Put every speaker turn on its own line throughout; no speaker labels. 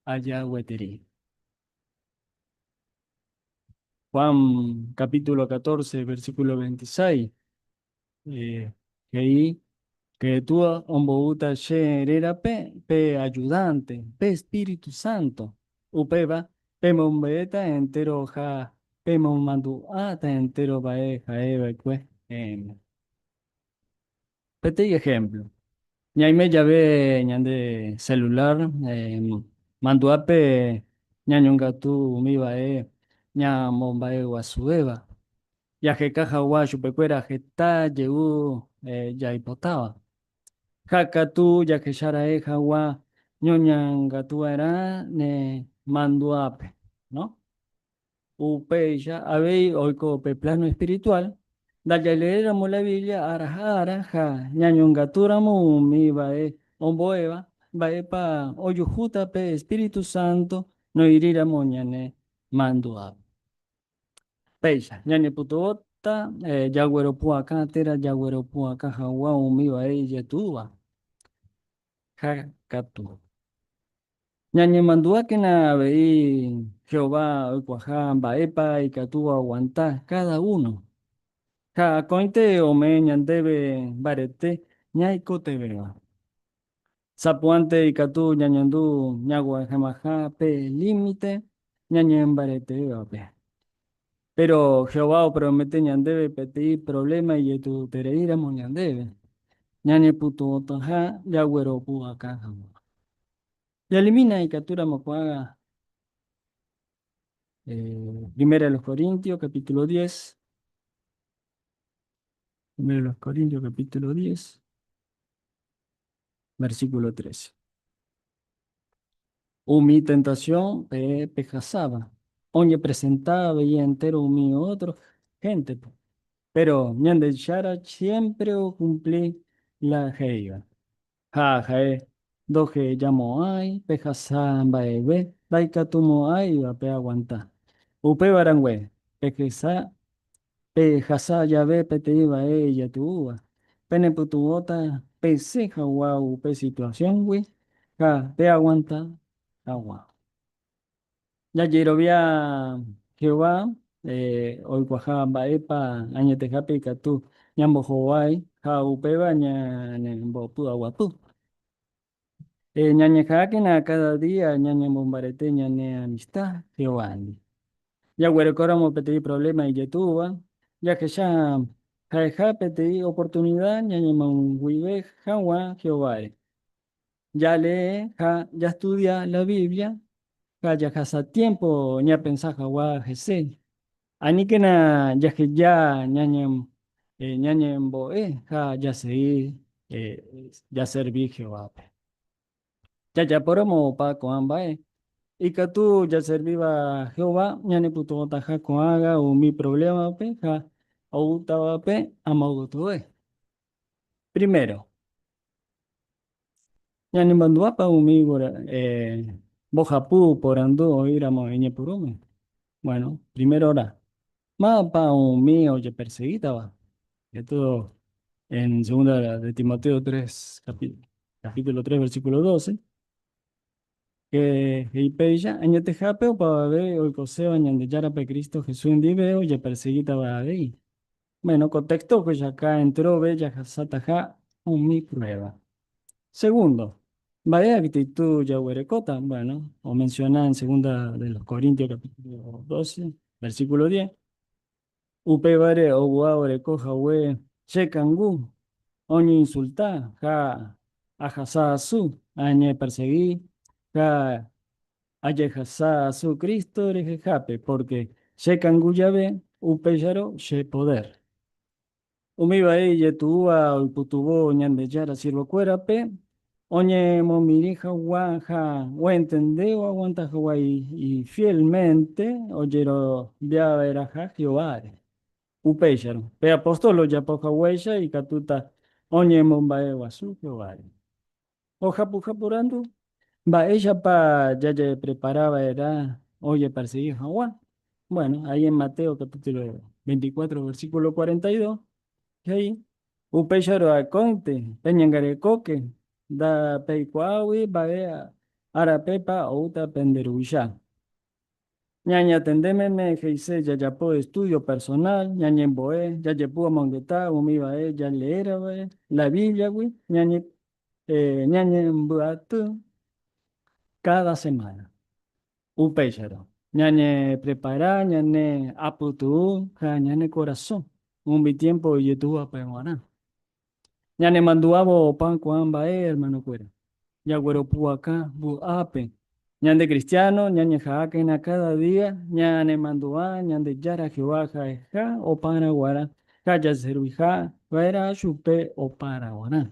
aja gueteri. Juan capítulo 14, versículo 26, eh, he'i Jesús omboúta che rérape pe ayudante, pe Espíritu Santo. Upéva pemombe'éta entéro ha pemomandu'áta entéro va'e ha'e va'ekue. Amén. Peteĩ ehémplo, ñaime jave ñande selula mandu'ápe ñañongatu umi vae ñamomba'eguasuvéva, jaheka hagua chupekuéra heta jey jaipotáva. Ha katu jahecharaẽ hagua ñoñangatuva'erã ne mandu'ápe. Upéicha avei oiko pe pláno espirituál, ndajaleéramo la Biblia ára ha ára ha ñañongatúramo umi mba'e ombo'éva, mba'épa ojuhúta pe espíritu sánto noĩríramo ñane mandu'ápe. Péicha ñanepytyvõta jagueropu'akã térã jagueropu'akã hag̃ua umi mba'e ijetúva. Ha katu. Ñañemandu'ákena avei Jehová oikuaaha mba'épa ikatúva oguanta káda uno. Ha akóinte omee ñandéve mbarete ñaikotevẽva. Sapy'ánte ikatu ñañandu ñaguahẽmaha pe límite ñañembareteývape. Péro Jehová opromete ñandéve peteĩ provléma ijetu'utereíramo ñandéve, ñañepytyvõtaha jagueropu vaka hag̃ua. Jaelimina ikatúramo ko'ág̃a Primera de los Corintios, capítulo diez. Primera de los Corintios, capítulo diez. Versículo 13. Umi tentasión pe pehasáva oñepresenta avei entéro umi ótro héntepe. Péro Ñandejára siémpre okumpli la he'íva. Ha ha'e ndohejamo'ãi pehasa mba'eve ndaikatumo'ãivape aguanta. Upéva rangue, pehesa Pehasa jave peteĩ vae ijetu'úva, penepytyvõta pesẽ hagua upe situasióngui ha peaguanta hag̃ua. Jajerovia Jehová oikuaaha mba'épa añetehápe ikatu ñambohovái ha upéva ñanembopy'aguapy. Ñañeha'ãkena káda día ñañemombarete ñane amista Jehovándi. Jaguerekóramo peteĩ provléma ijetúva, jahecha ha'eha peteĩ oportunida ñañemoag̃uive hag̃ua Jehováre. Jalee ha jastudia la Biblia ha jahasa tiémpo ñapensa hag̃ua hese Aníkena jaheja ñañembo'e ha jasegi jaservi Jehovápe. Jajapóramo opa ko'ã mba'e, ikatu jaservíva Jehová ñanepytyvõtaha ko'ág̃a umi provlémape ha oútavape amogotyoe. Primero, Ñanemandu'ápa umi mbohapy oporandu oĩramo iñepyrũme? Bueno, primérora, mávapa umi ojepersegítava? Esto en Segunda de Timoteo tres, capítulo tres, versículo doce, que he'i péicha, Añetehápe opavave oikoséva Ñandejárape Cristo Jesús ndive ojepersegítava avei. Bueno, ko texto ohechauka entrove jahasataha umi prueba. Segundo, mba'e actitud jaguerekóta? Bueno, omenciona en Segunda de los Corintios capítulo 12, versículo 10. Upévare oguaa oreko hague che kangu oñeinsulta ha ahasa asu, añepersegi ha Ajehasa asu Cristo rehehápe, pórke chekangu jave, upéicharõ che podér. Umi vai ijetu'úva oipytyvõ Ñandejára sirvokuérape oñemomirĩ hagua ha oentende oaguanta hagua ifiélmente ojeroviava'erãha Jehováre. Upéicharõ, pe apóstol ojapo haguéicha ikatúta oñemomba'eguasu Jehováre. Ojapuka porandu, Mba'éichapa jajeprepara va'erã ojeparsegi hag̃ua? Bueno, ahí en Mateo capítulo 24, versículo 42 he'i, Upéicharõ akóinte peñangarekóke, ndapeikuaágui mba'e árapepa oúta pende Ruvicha. Ñañatende meme he'ise jajapo estúdio personál, ñañembo'e, jajepu amongeta umi vae jaleéra va'e la Bíbliagui, ñañembyaty káda semána. Upéicharõ, ñañeprepara ñane apytu'u ha ñane korasõ umi tiémpo ijetu'u hapa'e g̃uarã. Ñanemandu'ávo opa ko'ã mba'e, hermanokuéra, jagueropu'aka vy'ápe. Ñande kristiáno ñañeha'ãkena káda día ñanemandu'a Ñandejára Jehová ha'eha opára guarã ha jaserviha va'erã chupe opára guarã.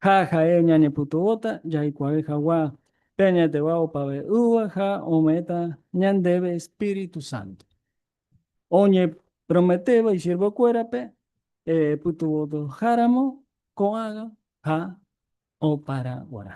Ha ha'e ñanepytyvõta jaikuaave hagua pe añeteva opave'ỹva ha ome'ẽta ñandéve espíritu sánto. oñeprometéva isiervokuérape pytyvõtoháramo ko'ágã ha oparã g̃uarã.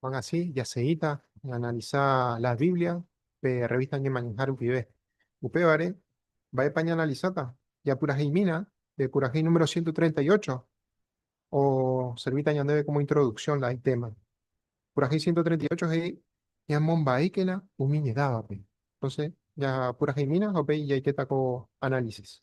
Juan así jaseíta ñaanalisa la Biblia pe rrevísta Ñemañaha rupive. Upévare, mba'épa ñaanalisáta? Japuraheimína pe purahéi número ciento treinta y ocho, oservíta ñandéve kómo introduksión la itéma. Purahéi ciento treinta y ocho he'i ñamombaíkena umi ñedávape. Entónse japuraheimína ha upéi jaikéta ko análisis.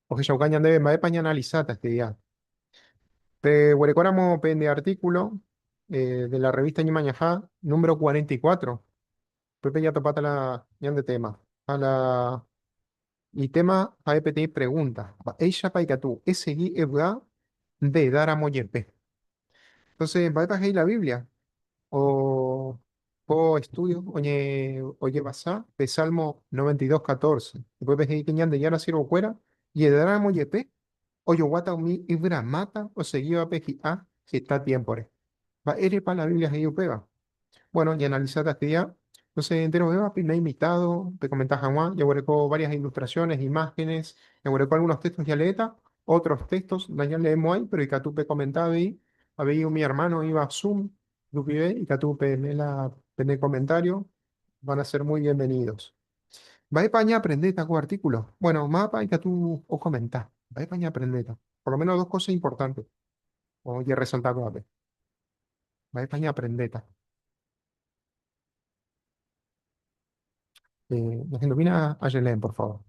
Ohechauka ñandéve mba'épa ñaanalisáta este día. Peguerekóramo pende artíkulo de la revísta Ñemañaha, número 44, upépe jatopáta la ñande téma. Ha la itéma ha'e peteĩ pregúnta, Mba'éichapa ikatu esegi evy'a nde edáramo jepe? Entonces, mba'épa he'i la Biblia? O ko estudio oñe ojevasa pe Salmo 92, 14. Upépe he'i ke Ñandejára siervokuéra jedáramo jepe ojoguáta umi yvyramáta osegívape hi'a heta tiémpore. Mba'érepa la Biblia he'i upéva? Bueno, ñaanalisa tapicha. Entonces, nde rovéva peime invitado, pekomenta hag̃ua, jaguereko varias ilustraciones, imágenes, jaguereko algunos textos jaléta, otros textos nañaleemo'ãi, pero ikatu pekomenta avei, avei umi hermano oĩva Zoom rupive, ikatu peime la pene comentario, van a ser muy bienvenidos. Mba'épa añaprendéta ko artículo? Bueno, mávapa ikatu okomenta, mba'épa añaprendéta? Por lo menos dos cosas importantes ojeresalta ko'ápe. Mba'épa ñaaprendéta? Eh, la gente opina a Yelen, por favor.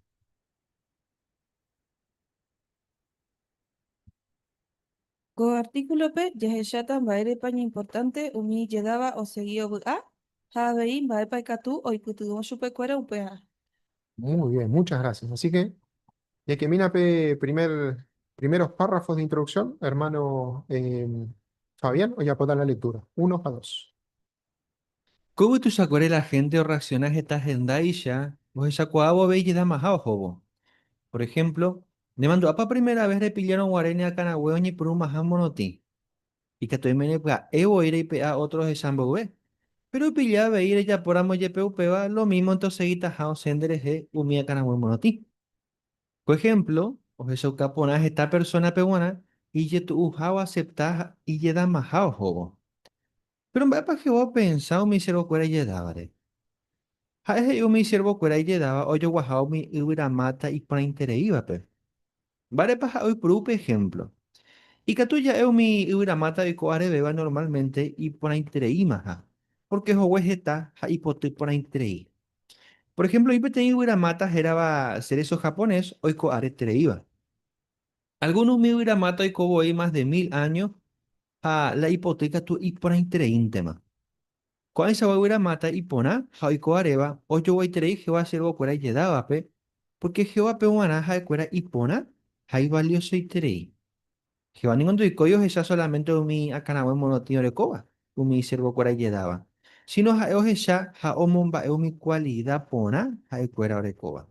Ko artíkulope jahecháta mba'érepa ñaimportánte umi ijedáva osegi ovy'a ha avei mba'épa ikatu oipytyvõ chupekuéra upearã. Muy bien, muchas gracias. Así que Ñakemína pe primer, primeros párrafos de introducción, hermano eh, Fabián, ojapóta la lectura. Uno ha dos. Ko yvy tuichakuére la hénte orreaksiona heta hendáicha ohechakuaávo avei jedamaha ohóvo. Por ehémplo, nemandu'ápa primera ves repillárõ guare ne akãrague oñepyrũmaha morotĩ? Ikatu oime repya'e voi reipe'a ótro ohecha mboyve. Péro opilla avei rejapóramo jepe upéva, lo mímo ndeosegitaha osẽ nderehe umi akãraguã morotĩ. Ko ehémplo ohechauka porã heta persónape g̃uarã ijetu'uha oasepta ha ijedamaha ohóvo. Péro mba'épa Jehová opensa umi siervokuéra ijedávare? Ha'e he'i umi siervokuéra ijedáva ojoguaha umi yvyramáta iporãitereívape. Mba'érepa ha oipuru upe ehémplo? Ikatu ja'e umi yvyramáta oiko arevéva normálmente iporãitereimaha, pórke hogue heta ha ipoty porãiterei. Por ehémplo, oĩ peteĩ yvyramáta hérava cerezo japonés oiko aretereíva. Algún umi yvyramáta oiko voi más de mil áño ha la ipoty katu iporãitereíntema. Ko'ãichagua guyra Mata iporã ha oiko'aréva ojoguaiterei Jehová siervokuéra ijedávape, pórke Jehovápe g̃uarã ha'ekuéra iporã ha ivaliosoiterei. Jehová ningo ndoikói ohecha solamente umi akãrague morotĩ orekóva umi isiervokuéra ijedáva, síno ha'e ohecha ha omomba'e umi kualida porã ha'ekuéra orekóva.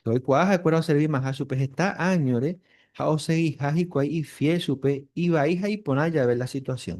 Jehová oikuaa ha'ekuéra oservimaha chupe heta áñore ha osegiha hikuái ifiél chupe ivai ha iporã jave la situasión.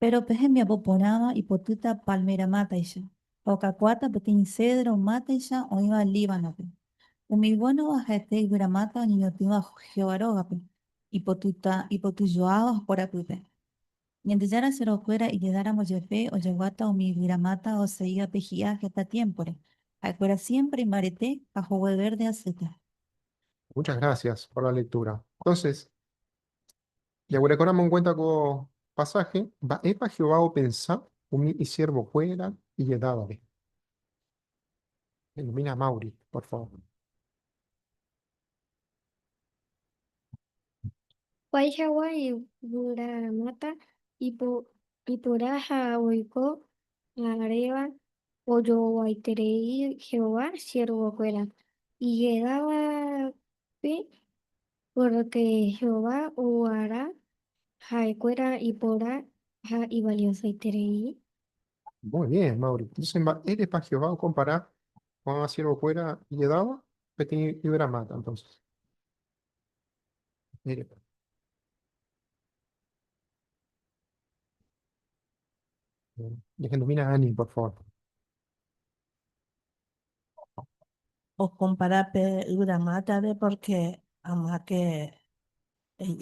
Péro pe hembiapo porãva ipotýta pálmera mátaicha, ha okakuaáta peteĩ sédro mátaicha oĩva Líbanope. Umi vuénova ha'ete yvyramáta oñeñotỹva Jehová rógape, ipotýta ipoty joáva porapýpe. Ñandejára serokuéra ijedáramo jepe ojaguáta umi yvyramáta oseívape hi'a heta tiémpore, ha'ekuéra siémpre imbarete ha hogue vérdea asýta. Muchas gracias por la lectura. Entonces, Jaguerekóramo enkuénta ko pasáhe, mba'épa Jehová opensa umi isiervokuéra ijedávare? Elumina Mauri, por favor. Vai hagua yvyramáta ipora ha oiko aréva ojoguaiterei Jehová siervokuéra ijedávape. Pórke Jehová oguara ha'ekuéra ipóra ha ivaliosoiterei. Muy bien, Mauri. Entonces, mba'érepa Jehová okompara ko'ág̃a siervokuéra ijedáva? Peteĩ yvyramáta, entonces. Mba'érepa? Dehendumína Ani, por favor. Okompara pe yvy Amátare pórke Amáke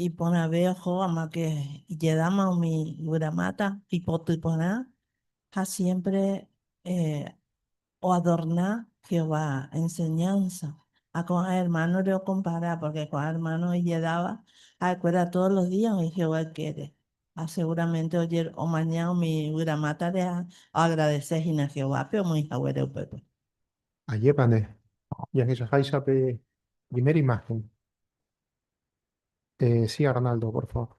iporãve oho, Amáke ijedáma umi yvy Amáta, ipoty porã ha siémpre oadorna Jehová enseñánsa. Ha ko'ã ermánore okompara, pórke ko'ã ermáno ijedáva ha'ekuéra tódo los días oĩ Jehová ykére. Ha seguramente ojer omaña umi yvyra mátare ha oagradese hína Jehovápe omoĩ haguére upépe. Ajépa nde jahechaháicha pe primer imagen. Eh, si Arnaldo, por favor.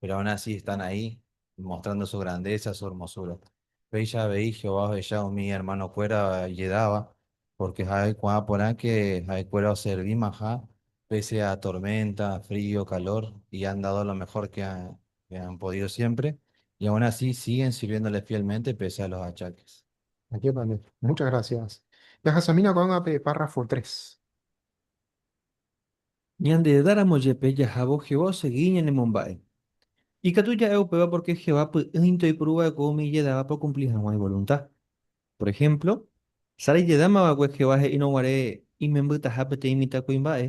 péro aun así están ahí mostrando su grandeza, su hermosura. Péicha avei Jehová ohecha umi hermanokuéra ijedáva, pórke ha'e ko'ã porãke ha'ekuéra oservimaha pése a torménta, frío, kalór, i han dado lo mehór ke han podído siémpre, i aun así síguen sirviéndole fiélmente pése a los achákes. Ajépa nde. Múcha grasiás. Jahasamína ko'ág̃a pe párrafo tres. Ñanderedáramo jepe jahávo Jehová osegi ñanemomba'e. Ikatu ja'e upéva pórke Jehová py'ỹinte oipuru va'ekue umi ijedávape okumpli hag̃ua ivolunta. Por ehémplo, Sara ijedáma va'ekue Jehová he'írõ guare imembytaha peteĩ mitãkuimba'e,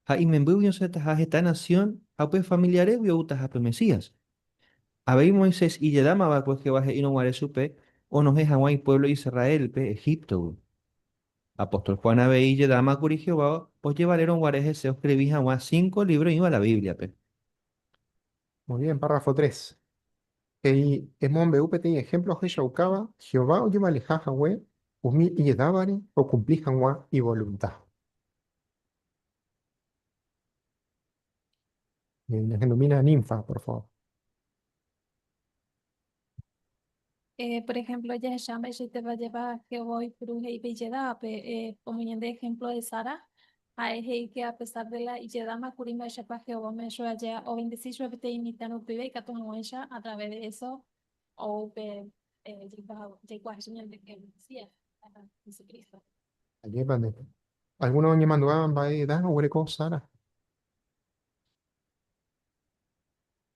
ha imembýgui osẽtaha heta nasión ha upe familiarégui oútaha pe Mesías. Avei Moisés ijedáma va'ekue Jehová he'írõ guare chupe onohẽ hag̃ua ipuévlo Israélpe Egíptogui. Apóstol Juan avei ijedáma kuri Jehová ojevalérõ guare hese oskrivi hag̃ua cinco lívro oĩva la Bíbliape. Muy bien, párrafo tres. He'i, Emombe'u peteĩ ehémplo ohechaukáva Jehová ojevaleha hague umi ijedávare okumpli hag̃ua ivolunta. Ñahendomína ninfa, por favor. Por ehémplo, jahecha mba'eichaiteva jeva Jehová oipuru he'ípe ijedávape. Omoñe'ẽnde ehémplo de Sara. Ha'e he'íke apesar de la ijedáma kuri mba'éichapa Jehová ome'ẽ chupe aja ovendesi chupe peteĩ imitã rupive ikatu hag̃uáicha a través de eso ou upe jaikuaa hese ñanderuete Mesías, Jesucristo. Ajépa nde. Algúno oñemandu'áva mba'e edad oguereko Sara?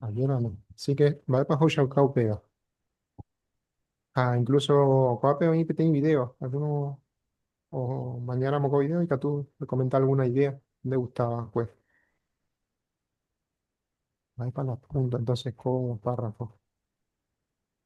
Ayúdame. Así que, mba'épa ohechauka upéva? Ha incluso ko'ápe oĩ peteĩ vidéo, alguno omañáramo ko vidéo ikatu okomenta alguna idea ndegusta va'ekue. Mba'épa la punda entonces ko párrafo?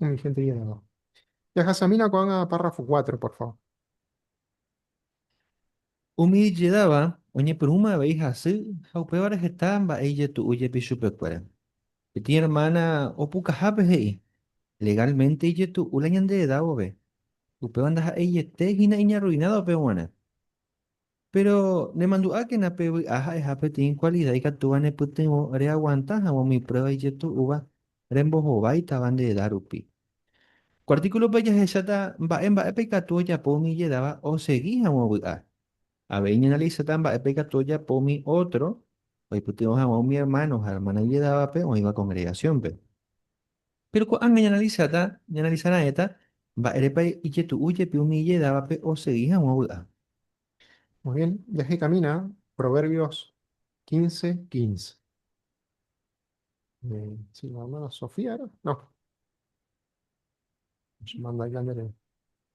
Umi hénte iñe'ẽva. Jahasamína ko'ág̃a párrafo cuatro, por favor. Umi ijedáva oñepyrũma avei hasy ha upévare heta mba'e ijetu'u jepi chupekuéra. Peteĩ ermána opukahápe he'i, Legálmente ijetu'u la ñande eda vove, upéva ndaha'eiete hína iñarruinádo pe g̃uarã. Péro nemandu'ákena pe vy'a ha'eha peteĩ kualida ikatúva nepytyvõ reaguanta hag̃ua umi pruéva ijetu'úva rembohováitava nde eda rupi. Ko artíkulope jahecháta mba'e mba'épa ikatu ojapo umi ijedáva osegi hag̃ua vy'a. Avei ñaanalisáta mba'épa ikatu ojapo umi ótro oipytyvõ hag̃ua umi ermáno ha ermána ijedávape oĩva kongregasiónpe. Péro ko'ág̃a ñaanalisáta, ñaanalisa raẽta mba'érepa ijetu'u jepi umi ijedávape osegi hag̃ua vy'a. Muy bien, jahekamína Proverbios quince, quince. Si la hermana Sofía era? No. Manda aika nde reve.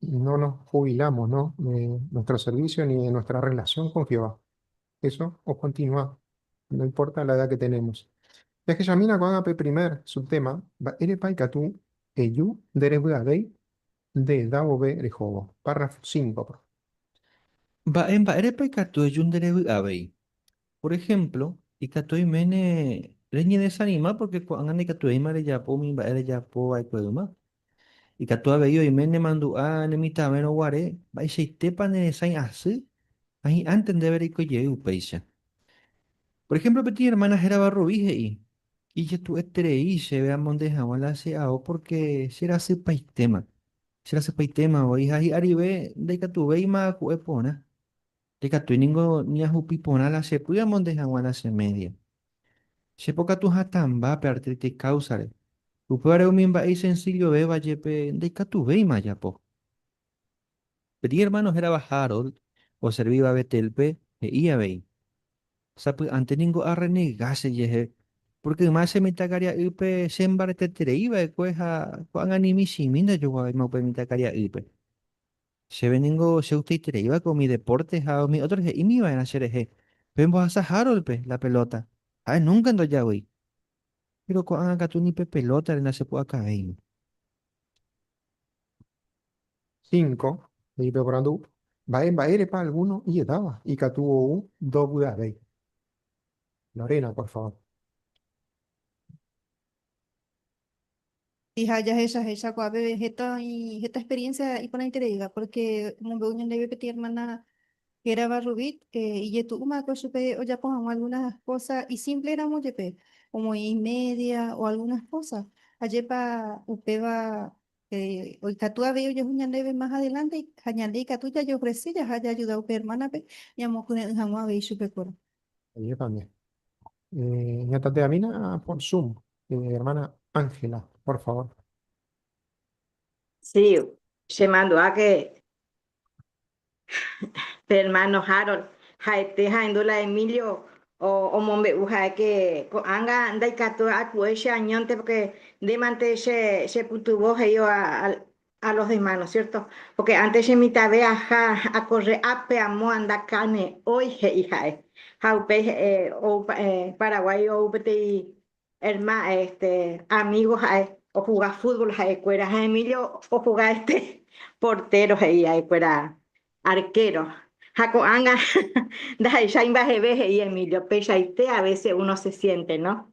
y no nos jubilamos, ¿no? De nuestro servicio ni de nuestra relación con Jehová. Eso o continúa, no importa la edad que tenemos. Ya que Yamina con el primer subtema, va ere paikatu, eyu, derebuadei, de daobe rejobo. Párrafo 5. Va en va ere paikatu, eyu, derebuadei. Por ejemplo, y katu imene reñe desanima porque kuangane katu eima reyapo mi va ere yapo va ikueima. Ikatu avei oime nemandu'a nemitãvérõ guare, mba'eichaitépa neresãi asy ha hi'ãnte ndéve reiko jey upéicha. Por ehémplo peteĩ ermána hérava Rubi he'i, Ijetu'eterei chéve amonde hag̃ua la che ao pórke cherasypaitéma. Cherasypaitéma voi ha hi'arive ndaikatuvéima aku'e porã. Ndikatúi ningo ñahupi porã la chepy amonde hag̃ua la che média. Che pokatu hatãmba pe artrítis káusare, upévare umi mba'e isensillovéva jepe ndaikatuvéima ajapo. Peteĩ ermáno hérava Harold oservíva Betélpe he'i avei, Sapy'ánte ningo arrenega chejehe, pórke yma che mitãkaria'ýpe chembareteterei va'ekue ha ko'ag̃a ni michĩmi ndajoguavéima upe mitãkaria'ýpe. Chéve ningo chegustaitereívako umi depórte ha umi ótro he'ímiva'erã cherehe, Pembohasa Harold-pe la pelóta, ha'e núnka ndojagui. Péro ko'ág̃a katu ni pe pelótare ndachepu'akavéima. Cinco, he'i pe oporandu, Mba'e mba'érepa algúno iedáva ikatu ou ndovy'avéi? Lorena, por favor. Y ha jahechahecha ko'ã peve heta oĩ heta experiencia iporãitereíva, porque omombe'u ñandéve peteĩ hermana hérava Rubit, ijetu'úmava'ekue chupe ojapo hag̃ua algunas cosas isimple ramo jepe, omoĩ imedia o algunas cosas. Ajépa upéva oikatu avei ojehu ñandéve más adelante ha ñande ikatu jajeofrese jaha jaajuda upe hermánape ñamokyre'ỹ hag̃ua avei chupekuéra. Ajépa nde ñatateamína por Zoom. Eh, hermana Ángela, por favor. Sí, se mandó a que hermano Harold, Jaete Jaendú la Emilio o omombe'u ha'e que ko'ág̃a ndaikatu aku'e che añónte porque ndémante che chepytyvõ he'íva a los demás, ¿no es cierto? Porque antes che mitãve aja acorre ápe amo anda carne hoy, he'i ha'e. Ha upéi ou Paraguái ou peteĩ herma, este, amigo ha'e ojuga fútbol ha'e kuéra ha Emilio ojuga este portero he'i ha'e kuéra arquero. Ha ko'ág̃a ndaha'eichái mba'eve he'i Emilio, peichaite a veces uno se siente, ¿no?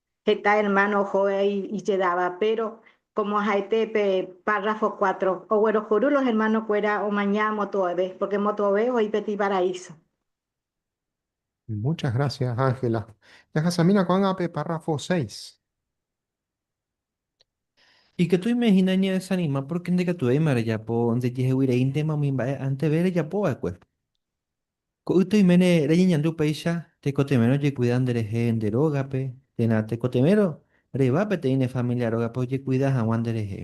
Heta ermáno oho ijedáva, péro kómo ha'ete pe párrafo kuátro, oguerohory los ermanokuéra omaña motu'ave, pórke motu'ave oĩ pe iparaíso. Muchas grásias, Ángela. Jahasamína ko'ág̃a pe párrafo séis. Ikatuíme hína ñadesanima pórke ndekatuvéima rejapo ndejeheguireíntema umi mba'e anteve rejapova'ekue. Ko'ýte oiméne reñeñandu upéicha, tekotevẽrõ jekuida nderehe nde rógape, térã tekotevẽrõ reva peteĩ ne familia rógape ojekuida hag̃ua nderehe.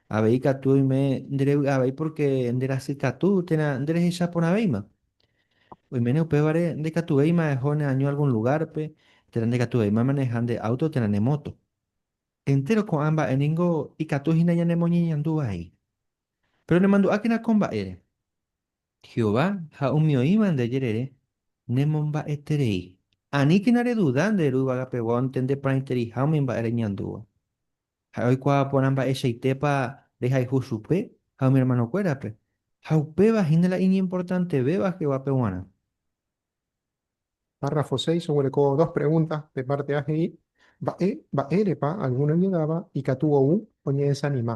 Avei katu oime nderevy'a avei pórke nderasy katu térã nderehecha porãvéima. Oiméne upévare ndaikatuvéima eho neaño algún lugárpe, térã ndaikatuvéima amaneha nde áuto térã ne móto. Entéro ko'ã mba'e ningo ikatu hína ñanemoñeñandu vai. Péro nemandu'ákena ko mba'ére. Jehová ha umi oĩva nde jerére nemomba'eterei. Aníkena reduda nde Ru yvagapegua ontendeporãiteriha umi mba'e reñandúva. Ha'e oikuaa porã mba'eichaitépa rehayhu chupe ha umi ermanokuérape, ha upéva hína la iñimportantevéva Jehovápe g̃uarã. Párrafo seis oguereko dos pregúnta, pe pártea he'i, Mba'e mba'érepa algún oñedáva ikatu ou oñedesanima?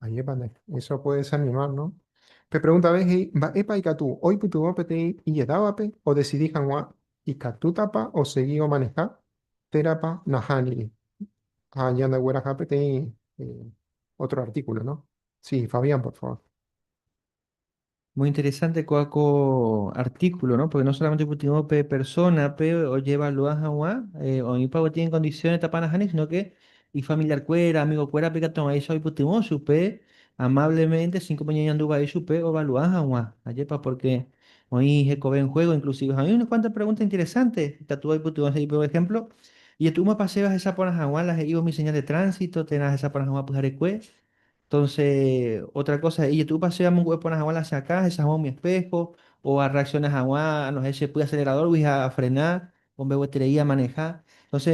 Ajépane, eso puede desanimar, no? Pe pregunta avei he'i, mba'épa ikatu oipytyvõ peteĩ ijedávape odesidi hag̃ua ikatútapa osegi omaneha térãpa nahániri. Ha ñandegueraha peteĩ otro artíkulo, no? Sí, Fabián, por favor. Muy interesante koa ko artículo, ¿no? Porque no solamente upytyvõ pe persona-pe ojevalua hag̃ua eh, oĩpa avati en condiciones etapa nahániri, sino que ifamiliarkuéra, amigokuérape ikatu hag̃uáicha oipytyvõ chupe amablemente, sin como ñañandu vai chupe ovalua hag̃ua. Ajépa, porque oĩ hekove en juego inclusive. Ha oĩ unas cuantas preguntas interesantes ikatu oipytyvõ he'i, por ejemplo, ijetu'úmapa chéve ahesa porã hag̃ua la he'ívo mi señal de tránsito térã ahesa porã hag̃ua pyharekue? Entonce otra cosa he'i jetu'úpa chéve amongu'e porã hag̃ua la che akã ahecha hag̃ua umi espejo o arreacciona hag̃ua anohẽ che py acelerador-gui ha afrena ombegueterei amaneha. Entonce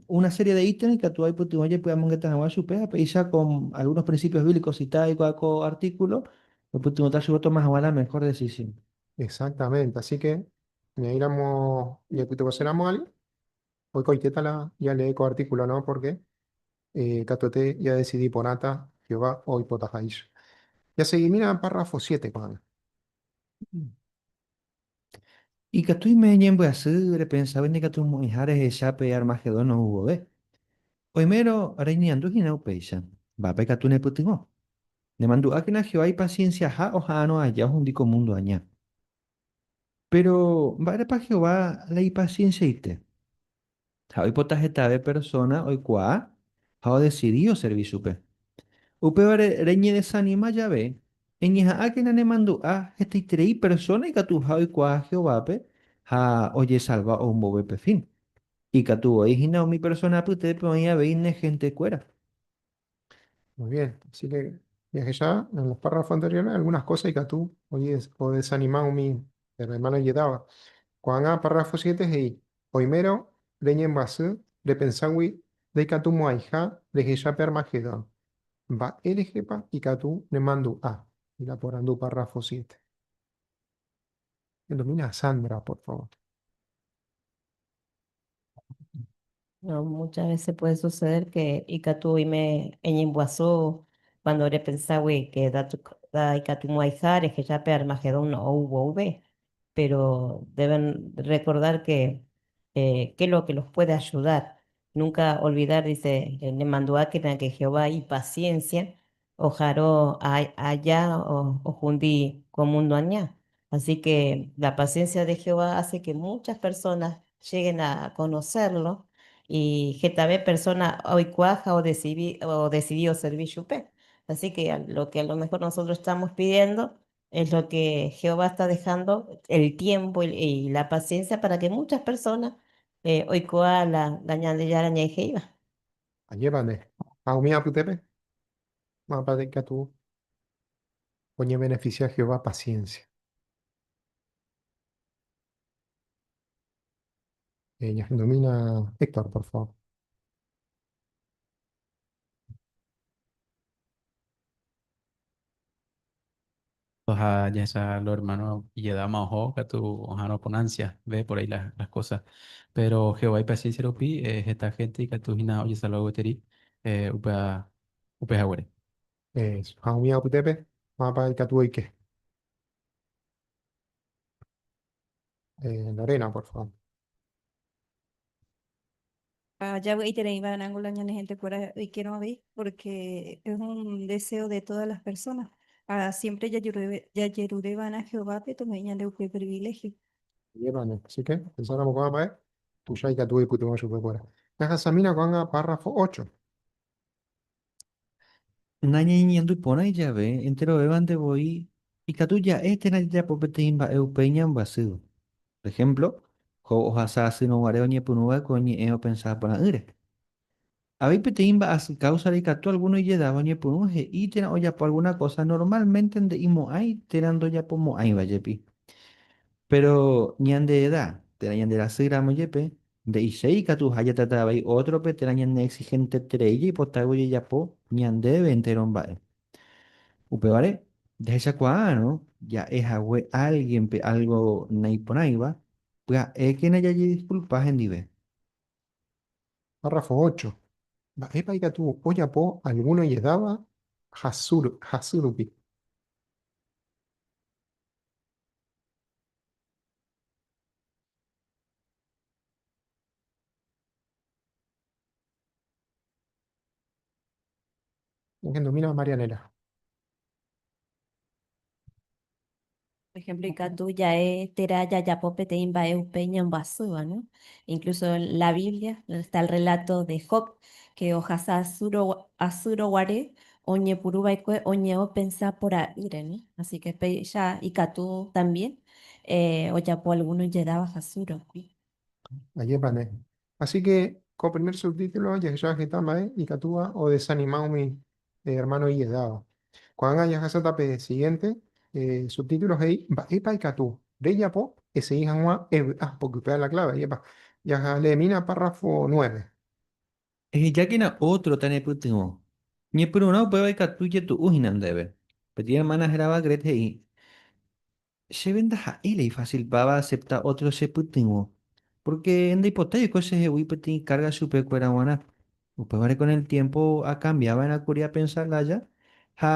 una serie de ítem ikatu aipytyvõ jepe amongeta hag̃ua chupe ha péicha con algunos principios bíblicos cita aikuaa ko artículo oipytyvõta chupe otoma hag̃ua la mejor decisión. Exactamente, así que ñaĩramo ñaipytyvõse ramo alguien Oikoitéta la jalee ko artíkulono pórke katuete jadesidi porãta Jehová oipotaháicha. Jasegimína párrafo siete ko'ág̃a. Ikatúime ñembyasy repensávo ñakatumo'ẽha rehecha pe Armagedón ou vove. Oimérõ reñeñandu hína upéicha, Mba'épa ikatu nepytyvõ? Nemandu'ákena Jehová ipasiensiaha oha'arõ aja ohundi ko múndo aña. Péro mba'érepa Jehová la ipasiensiaite? Ha oipota hetave persóna oikuaa ha odesidi oservi chupe. Upévare reñedesanima jave, eñeha'ãkena nemandu'a hetaiterei persóna ikatuha oikuaa Jehovápe ha ojesalva ou mboyve pe fin. Ikatu voi hína umi persóna apytépe oĩ avei ne hentekuéra. Muy bien, así que ya que ya en los párrafos anteriores algunas cosas y que tú oye o desanimado mi hermano llegaba. Cuando a párrafo 7 hey, primero reñen basé de pensar we de que tú moaija de que ya permagedón. Va el jepa y que tú ne mando a y la por andu párrafo 7. Domina Sandra, por favor. No, muchas veces puede suceder que ikatu oime eñemboaso cuando repensagui que da, da ikatu moaiha rehecha pe Armagedón ou vove, pero deben recordar que eh, qué es lo que los puede ayudar. Nunca olvidar, dice, eh, nemanduákena que Jehová ipaciencia oharo aja ohundi ko múndo aña. Asíke la pasiénsia de Jehová háse ke múchas persóna lleguen a konosérlo, i hetave persóna oikuaa ha odesidi, odesidi oservi chupe. Asíke lo ke alomehór nosotros estámos pidiendo, es lo ke Jehová está dejando el tiémpo i la pasiénsia pára ke múchas persóna oikuaa la Ñandejára Ñe'ẽ he'íva. Ajévare, ha umi apytépe, mávapa la ikatu oñebeneficia Jehová paciencia? Ñahendomína Héctor, por favor. Oha jahecha lo hermano ijedama oho katu oharõ con ansia ve por ahí las, las cosas. Pero Jehová ipaciencia rupi eh, heta gente ikatu hína ojesalva gueteri eh, upea, upe haguére. Eso. Ha umi apytépe, mávapa ikatu oike? Eh, Lorena, por favor. ha javy'aitereíva rango la ñane hentekuéra oikerõ avei, pórke es un deseo de tódas las personas. Ha siémpre jajerure va'erã Jehovápe tomo'ĩ ñande upe priviléhio. Upévare, así ke pensáramo ko'ã mba'e, tuicha ikatu oipytyvõ chupekuéra. Jahasamína ko'ág̃a párrafo ócho. Nañañeñandu porãi jave enterovévante voi, ikatu ja'e térã jajapo peteĩ mba'e upéi ñambyasýva. Por ehémplo, Job ohasa asýrõ guare oñepyrũ va'ekue oñe'ẽ opensa porã'ỹre. Avei peteĩ mba'asy káusare ikatu algúno ijedáva oñepyrũ he'i térã ojapo algúna kósa normalmente nde'imo'ãi térã ndojapomo'ãiva jepi. Péro ñande eda térã ñanderasýramo jepe, Nde'iséi ikatu ha jatrata avei ótrope térã ñaneexihenteterei jaipotágui ojejapo ñandéve entéro mba'e. Upévare, jahechakuaárõ ja'e hague álguenpe álgo naiporãiva, pya'ékena jajidiskulpa hendive. Párrafo ócho. Mba'épa ikatu ojapo algún ojedáva hasy rupi? Engendomína Marianela. Por ejemplo, ikatu ja'e térã jajapo peteĩ mba'e upe ñambyasýva, ¿no? Incluso la Biblia, donde está el relato de Job, que ohasa asýro, asýro guare oñepuru va'ekue oñe'õ pensa pora'ỹre, ¿no? Así que péicha ikatu también ojapo alguno ijedáva hasu rokui. Ajépa nde. Así que ko primer subtítulo jahecha heta mba'e ikatúva odesanima umi hermano ijedáva. Ko'ág̃a jahasáta pe siguiente subtítulo he'i Mba'épa ikatu rejapo esegi hag̃ua evy'a pokype a la clave. Ajépa. Jaha leemína párrafo nueve. Ehejákena ótro tanepytyvõ. Ñepyrũrã upéva ikatu jetu'u hína ndéve. Peteĩ ermána hérava Gret he'i, Chéve ndaha'éi rei fásilpa vaasepta ótro chepytyvõ, pórke ndaipotái oiko chehegui peteĩ kárga chupekuéra g̃uarã. Upévare kon el tiémpo akambia va'erã kuri apensa lája ha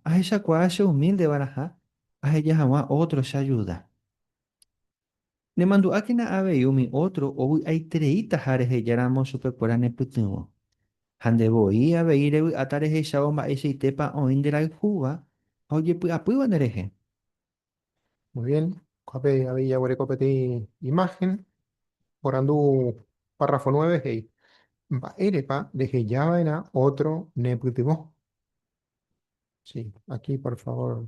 ahechakuaa cheumíldeva'erãha aheja hag̃ua ótro cheajuda. Nemandu'ákena avei umi ótro ovy'aitereítaha rehejáramo chupekuéra nepytyvõ. Ha nde voi avei revy'áta rehechávo mba'eichaitépa oĩ nderayhúva ha ojepy'apýva nderehe. Muy bien, kuápe avei jaguereko peteĩ imagen, oporandu párrafo nueve he'i, Mba'érepa rehejava'erã ótro nepytyvõ? Sí, aquí por favor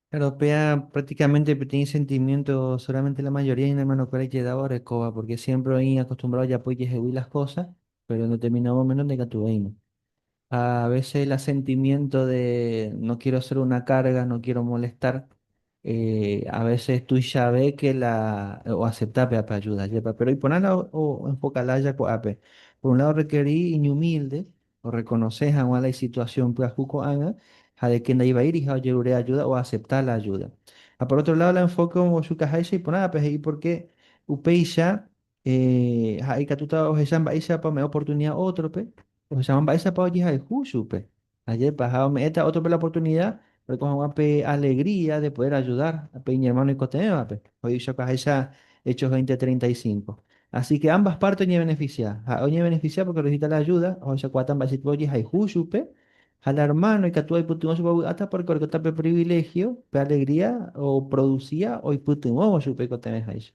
Claro, péa prácticamente peteĩ sentimiento solamente la mayoría hína hermanokuéra ijedávo orekóva, porque siempre oĩ acostumbrado ojapo ijehegui las cosas, pero en determinado momento ndaikatu oĩma. Ha a veces la sentimiento de no quiero ser una carga, no quiero molestar, eh, a veces tuichave que la oacepta péva pe ayuda, jepa. Pero iporã la o, o enfoca lája ko'ápe. Por un lado requerí iñumilde, orrekonose hag̃ua la isituasión pyahu ko'ág̃a ha de ke ndaivaíriha ojerure ajúda oasepta la ajúda. Ha por ótro ládo la enfóke ombochukaháicha iporãvape he'i pórke upéicha ha'e ikatúta ohecha mba'éichapa ome'ẽ oportunida ótrope, ohecháma mba'éichapa ojehayhu chupe. Ajépa, ha ome'ẽta ótrope la oportunida Oiko hag̃ua pe alegría de poder ayudar pe iñermáno oikotevẽvape, he'i Choca ahecha, Hechos 20, 35. Así ke ambas párte oñevenefisia. Ha'e oñevenefisia pórke orehechauka la ajúda, ohechakuaáta mba'éichatipa ojehayhu chupe, ha la ermáno ikatu aipytyvõ chupe ovy'áta pórke orekóta pe priviléhio, pe alegría oprodusia oipytyvõvo chupe oikotevẽháicha.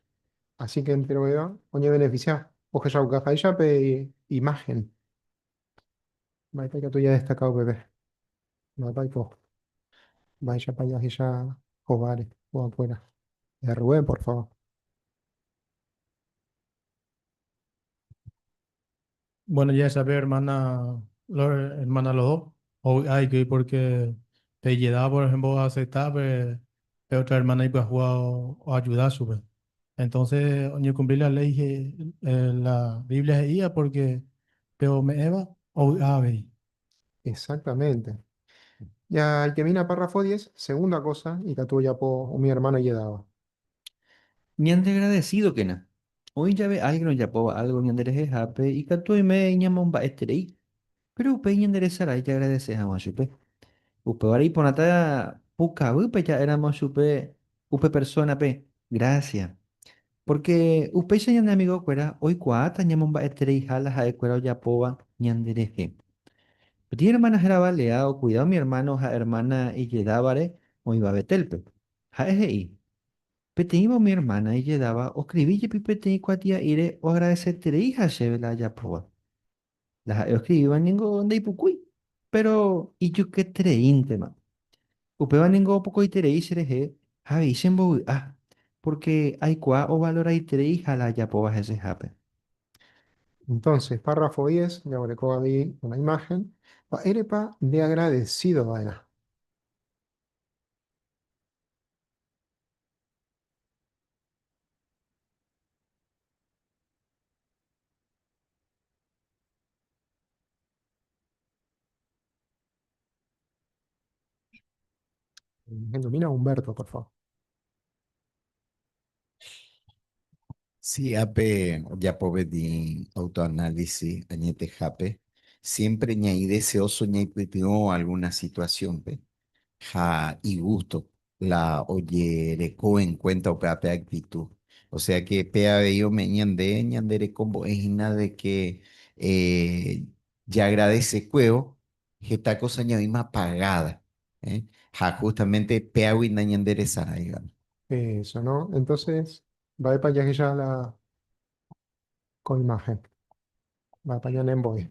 Así ke enterovéva oñevenefisia ohechauka háicha pe imáhen. Mba'épa ikatu jadestaka upépe? Mávapa oiko? Mba'éichapa jahecha hováre ko'ãkuéra? Errue, por favor. Bueno días, sabe hermana Lor, hermana Loho, ovy'a ikýi porque pe jeda por ejemplo oacepta pe otra hermana ipyahúva oajuda chupe. Entonces oñekumpli la léi la Biblia he'íva pórke pe ome'ẽva ovy'a avei. Exactamente. Ya itemina párrafo diez, segunda kósa ikatu ojapo umi ermáno ijedáva. Ñandegradesídokena. Oĩ jave álgren ojapóva álgo ñanderehehápe, ikatu oime ñamomba'eterei. Péro upéi ñanderesarái jaagradese hag̃ua chupe. Upévare iporãta pukavýpe ja'éramo chupe upe persónape grásia. Pórke upéicha ñane amigokuéra oikuaáta ñamomba'etereiha la ha'ekuéra ojapóva ñanderehe. Peteĩ ermána héra Valea okuida umi ermáno ha ermána ijedávare oĩva Betélpe. Ha'e he'i, Peteĩva umi ermána ijedáva oskrivi jepi peteĩ kuatia'íre oagradesetereiha chéve la ajapóva. La ha'e oscrivíva ningo ndeipukúi, péro ijuketereíntema. Upéva ningo opokoiterei cherehe ha avei chembovy'a, pórke aikuaa ovaloraitereiha la ajapóva hesehápe. Entónse, párrafo diez, jaguereko avei una imáhen, Mba'érepa ndeagradesído va'erã? Ilumina Humberto, por favor. Sí, ape yapove di autoanálisis añetehápe, siempre ñai deseoso ñaipytyvõ alguna situación-pe ha igusto la ojereko en cuenta upe ape actitud. O sea que pe avei ome'ẽ ñande ñande reko mbo'e hína de que ja agradece kuévo heta cosa ñaĩma pagada ha justamente péagui nañande resaráivano. Eso no, entonces mba'épa jahecha la ko imagen? Mba'épa ñanembo'e?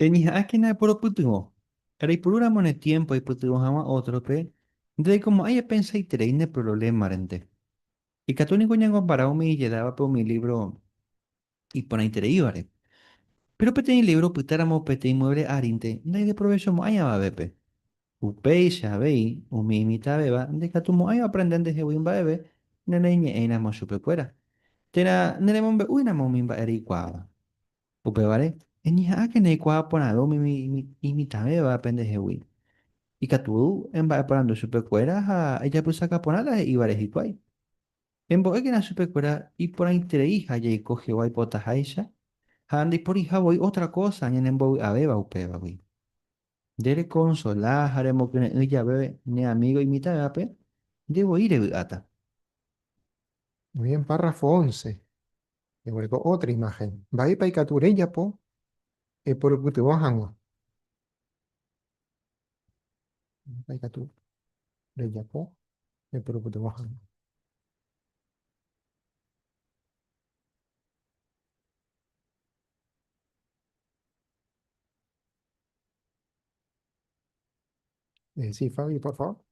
Reñeha'ãkena eporopytyvõ. Reipurúramo ne tiémpo aipytyvõ hag̃ua ótrope, ndereikomo'ãi epensaiterei ne prorolémarente. Ikatu niko ñañombara umi ijedávape umi lívro iporãitereívare. Péro peteĩ lívro opytáramo peteĩ muévle arínte ndaideprovechomo'ãi avavépe. Upéicha avei, umi imitãvéva ndaikatumo'ãi oaprende ndehegui mba'eve nereiñe'ẽiramo chupekuéra, térã neremombe'úiramo umi mba'e reikuaáva. Upévare, eñeha'ãkena eikuaa porãve umi imitãvéva pendehegui. Ikatu emba'eporandu chupekuéra ha ejapysaka porã la he'ívare hikuái. Embo'ékena chupekuéra iporãiterei ha jaiko Jehová ipotaháicha ha ndaiporiha voi ótra kósa ñanembovy'avéva upévagui. Nde rekonsola ha remokyre'ỹ jave ne amígo imitãvévape, nde voi revy'áta. Muy bien, párrafo once. Eguereko ótra imáhen. Mba'épa ikatu rejapo eporupytyvõ hag̃ua? Mba'épa ikatu rejapo eporupytyvõ hag̃ua? Eh, sí, Fabio, por favor.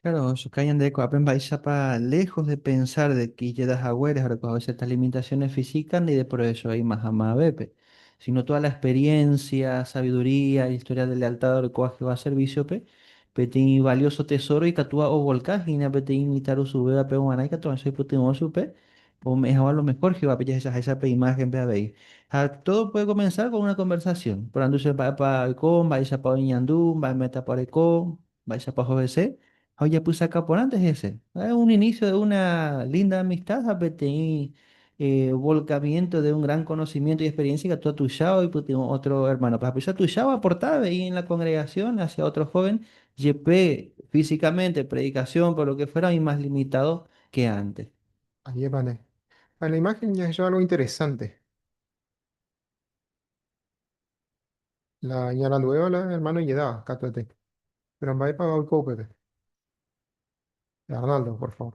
Claro, Shukai Yandeko Apemba Isapa, lejos de pensar de que Yeda Jagueres ahora con ciertas limitaciones físicas ni de por eso hay más Bepe, sino toda la experiencia, sabiduría, historia de lealtad ahora con va a servicio pe, peti valioso tesoro y catua o volcán, y na peti imitar usubeba pe guanay, catua soy putin osupe, Ome'ẽ hag̃ua lo mejor Jehovápe jahechaháicha pe imágenpe avei. Ha tódo puede komensar kon una konversasión. Porandu che mba'épa oiko, mba'éichapa oñeñandu, mba'e métapa oreko, mba'éichapa oho hese, ha ojapysaka porãnte hese. Ha'e un inísio de una línda amistad ha peteĩ volkamiénto de un gran konosimiénto y experiencia ikatu atuicha oipytyvõ ótro ermánope. Ha'epicha tuicha oaporta avei en la kongregasión hasia ótro hóven, jepe físikamente, predikasiónpe o lo ke fuéra oĩ más limitado ke ánte. Ajévare. Ha la imagen jahecha algo interesante. La ñaranduvéva la hermano ijedáva, katuete. Pero mba'épa oiko upépe? Arnaldo, por favor.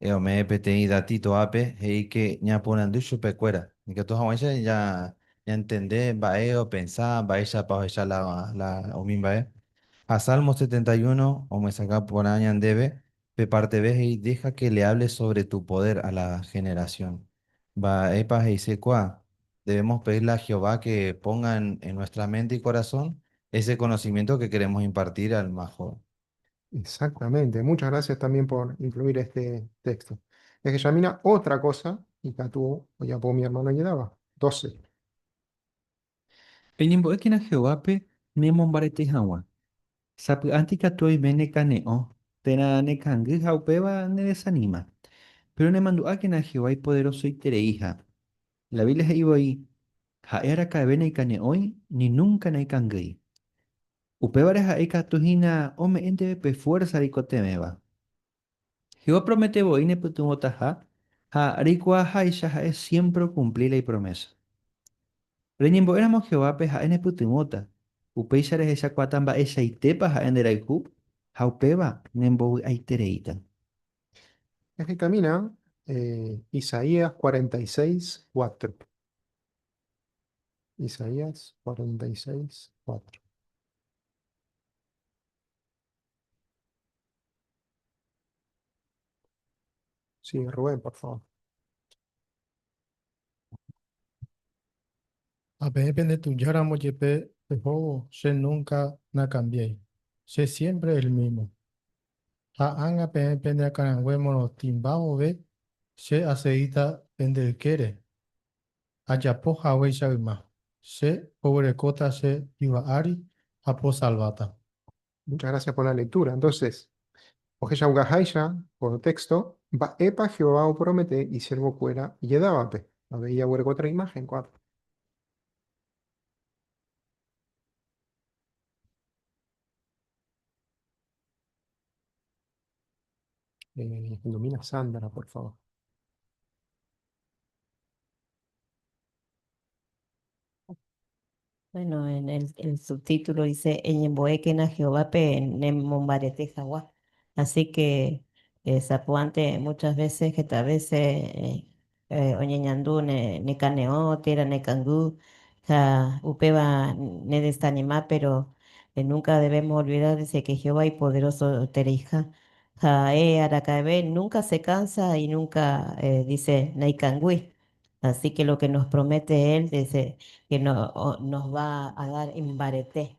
Eh, ome'ẽ peteĩ datito ápe, he'íke ñaporandu chupekuéra, ikatu hag̃uáicha ja, ñantende mba'e opensa, mba'éichapa ohecha la, la umi mba'e. Ha Salmo setenta y uno omyesakã porã ñandéve, pe párteve he'i Deja que le hable sobre tu poder a la generación. Mba'épa he'ise kua? Debemos pedirle a Jehová que ponga en nuestra mente y corazón ese conocimiento que queremos impartir al más joven. Exactamente. Muchas gracias también por incluir este texto. Es que Yamina, otra cosa, y Catu, ya por mi hermano ayudaba. 12. Peñembo'ékena Jehovápe nemombarete hag̃ua. Sapy'ánte ikatu oime nekane'õ térã nekangy ha upéva nedesanima. Péro nemandu'ákena Jehová ipoderosoitereiha. La Biblia he'i voi, Ha'e araka'eve naikane'õi ni núnka naikangýi. Upévare ha'e ikatu hína ome'ẽ ndéve pe fuérsa reikotevẽva. Jehová promete voi nepytyvõtaha ha reikuaaháicha ha'e siémpre okumpli la ipromésa. Reñembo'éramo Jehovápe ha'e nepytyvõta, upéicha rehechakuaáta mba'eichaitépa ha'e nderayhu ha upéva nembovy'aitereíta. Ehekamína Isaías cuarenta y seis, cuatro. Isaías 46, 4. Sí, Rubén, por favor. Apeẽ penetujáramo jepe pehóvo, che núnka nakambiái, che siémpre el mímo. Ha ág̃a peẽ pende akãrangue morotĩmba vove, che aseíta pende ykére, ajapo haguéicha yma, che poguerekóta che yva ári ha posalváta. Muchas gracias por la lectura. Entonces, ohechauka háicha ko texto, mba'épa Jehová opromete isiervokuéra ijedávape? Avei jaguereko tre imagen ko'ápe. Eh, nomina Sandra, por favor. Bueno, en el, el subtítulo dice, Eñemboekena Jehová pe nemombarete jagua. Así que eh, Zapuante muchas veces que tal vez eh, oñeñandu nekane'õ térã nekangy ha upéva nedesanima péro núnka debémos olvida de se ke Jehová ipoderosotereiha. Ha'e araka'eve núnka sekansa y núnka dice naikangýi. Así ke lo ke nos promete él dice ke nos va a dar imbarete.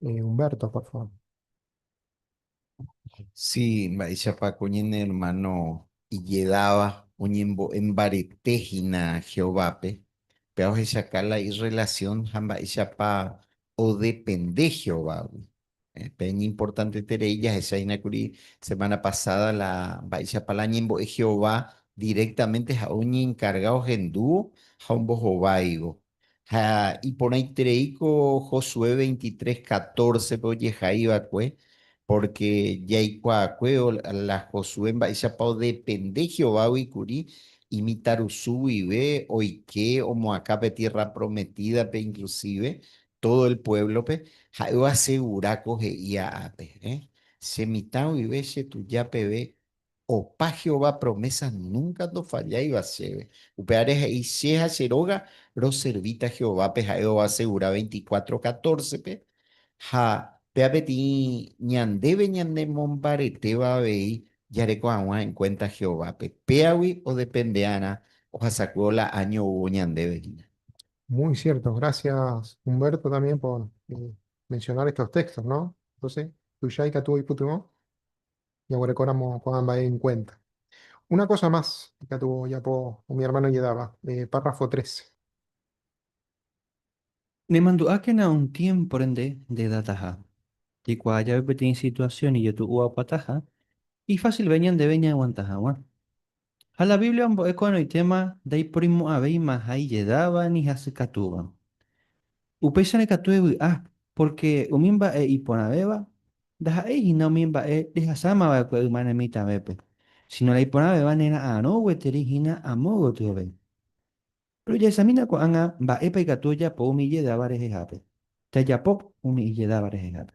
Eh, Humberto, por favor. Sí, mba'éichapa ko ñane hermano ijedáva oñembo'e mbarete hína Jehovápe, péva ohechauka la irrelasión ha mba'éichapa odepende Jehovágui. Pe iñimportanteterei jahecha hína kuri semana pasada la mba'éichapa la ñembo'e Jehová directamente ha'e oñenkarga ohendúvo ha ombohováivo Ha iporãiterei ko Josué veintitrés catorce-pe ojehai va'ekue, pórke jaikuaakue la Josué mba'éichapa odepende Jehovágui kuri imitãrusu guive oike omoakã pe Tierra Prometídape inklusíve tódo el puévlope, ha'e oasegura ko he'i ápe, Che mitã guive chetuja peve Opa Jehová promésa núnka ndofalláiva chéve. Upévare he'i, Che ha che róga roservíta Jehovápe ha'e ovasegura veinticuatro catórcepe, ha péva peteĩ ñandéve ñanemombaretéva avei jareko hag̃ua en kuénta Jehovápe. Péagui odepende'arã ohasakuévo la áño oúvo ñandéve hína. Muy cierto. Gracias Humberto también por mencionar estos textos, ¿no? Entonces, tuicha ikatu oipytyvõ. ñaguerekóramo ko'ã mba'e enkuénta. Una kósa más ikatu ojapo umi ermáno ijedáva, párrafo trece. Nemandu'ákena un tiémpore nde ndedataha. Jaikuaa jave peteĩ situasión ijetu'uapataha, ifásilve ñandéve ñaaguanta hag̃ua. Ha la Biblia ombo'e ko'ẽrõitéma ndaiporimo'ãvéimaha ijedáva ni hasykatúva. Upéicha nekatu evy'a, pórke umi mba'e iporãvéva ndaha'éi hína umi mba'e rehasámava'ekue ymane mitãvépe, síno la iporãvéva nera'arõ gueteri hína amo gotyove. Rojahesamína ko'ág̃a mba'épa ikatu ojapo umi ijedáva rehehápe. Jajapo umi ijedáva rehehápe.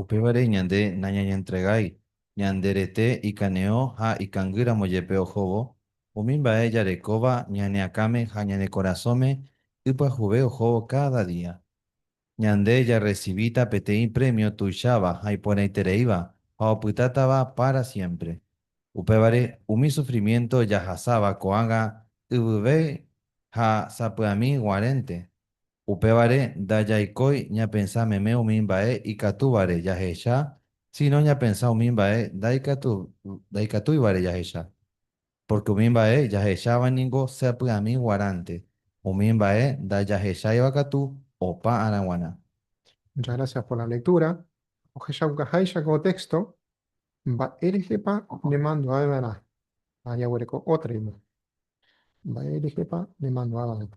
Upévare ñande nañañentregái ñande rete ikaneo ha ikangy ramo jepe ohóvo umi mba'e jarekóva ñane akãme ha ñane korasõme ipyahuve ohóvo káda día. Ñande jarresivíta peteĩ prémio tuicháva ha iporãitereíva ha opytátava pára siémpre. Upévare umi sufrimiénto jahasáva ko'ágã yvyvéi ha sapy'ami guarẽnte, Upévare ndajaikói ñapensa meme umi mba'e ikatúvare jahecha, síno ñapensa umi mba'e ndaikatúivare jahecha. Pórke umi mba'e jahecháva ningo sapy'ami guaránte, umi mba'e ndajahecháiva katu opa ára g̃uarã. Muchas gracias por la lectura. Ohechaukaháicha ko texto, mba'e rehepa nemandu'aveva'erã ha jaguereko ótra ime. Mba'e rehepa nemandu'aveva'erã.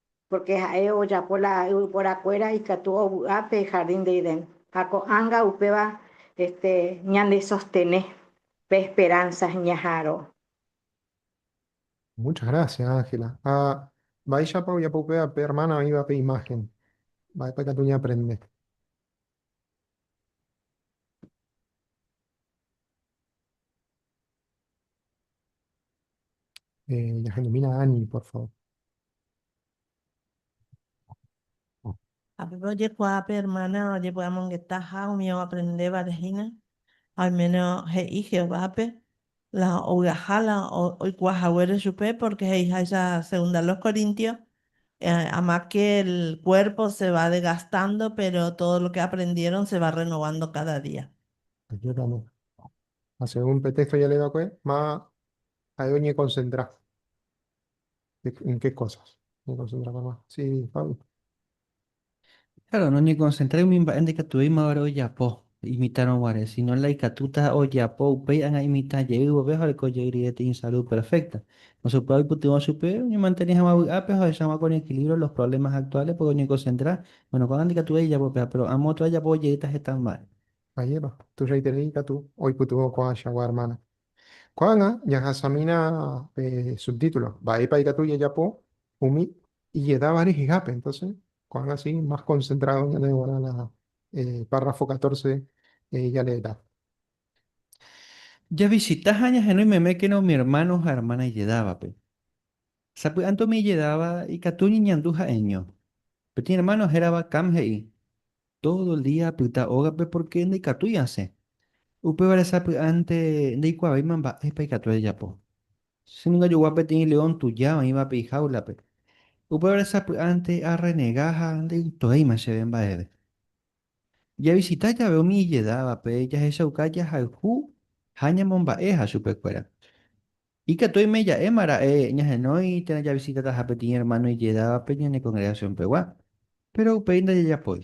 Pórke ha'e ojapo la yvyporakuéra ikatu ovy'a pe hardín de Edén, ha ko'ág̃a upéva ñandesostene pe esperánsa ñaha'arõ. Muchas gracias, Ángela. Ha mba'éichapa ojapo upéva pe hermana oĩva pe imagen? Mba'épa ikatu ñaaprende? Eh, ñahendomína Ani, por favor. Ha pépe ojekuaa pe ermána ojepy'amongetaha umi oaprendévare hína, ha oiméne he'i Jehovápe la ovy'aha la oikuaa haguére chupe, pórke he'iháicha Segunda los Corintios, Amat ke el kuérpo se va degastando, péro tódo lo ke aprendieron se va rrenovando káda día. Ajépa Ha según pe téxto ñande va'ekue, ma ha'e oñekonsentra en ke kósas. Oñekonsentra hag̃ua. Si, Pablo. Kláro, noñekonsentrái umi mba'e ndaikatuvéimavare ojapo imitãrõ guare, síno la ikatúta ojapo upéi ág̃a imitã jey vove ha oreko jey rire teĩ sarúd perfékta. Nosẽkuaa oipytyvõ chupe oñemantene hag̃ua vy'ápe ha ohecha hag̃ua ko oñeekilívro los provlémas aktuáles, pórke oñekonsentra, bóno, ko'ág̃a ndaikatuvéi ijapo péva, péro amo otra ojapo ojeýta heta mba'e. Ajépa, tuichaiterei ikatu oipytyvõ ko'ãichagua ermána. Ko'ág̃a jahasamína pe subtítulo, Mba'épa ikatu jajapo umi ijedáva rehehápe? Entónse, ko'ág̃a si más konsentrádo ñane g̃uarã la párrafo katórse jaleerã. Javisita ha ñahenói memékena umi ermáno ha ermána ijedávape. Sapy'ánte umi ijedáva ikatu oñeñandu ha'eño. Peteĩ ermáno hérava Cam he'i, Tódo el día apyta ógape pórke ndaikatúi asẽ. Upévare sapy'ánte ndaikuaávéima mba'épa ikatu ajajapo. Che ningo ajogua peteĩ león tuja oĩvape ijáulape. Upévare sapy'ánte arrenega ha ndaikytovéima chéve mba'eve. Javisita jave umi ijedávape jahechauka jahayhu ha ñamomba'eha chupekuéra. Ikatu oime ja'éma ra'e ñahenói térã javisitataha peteĩ ermáno ijedávape ñane kongregasionpegua, péro upéi ndajajapói.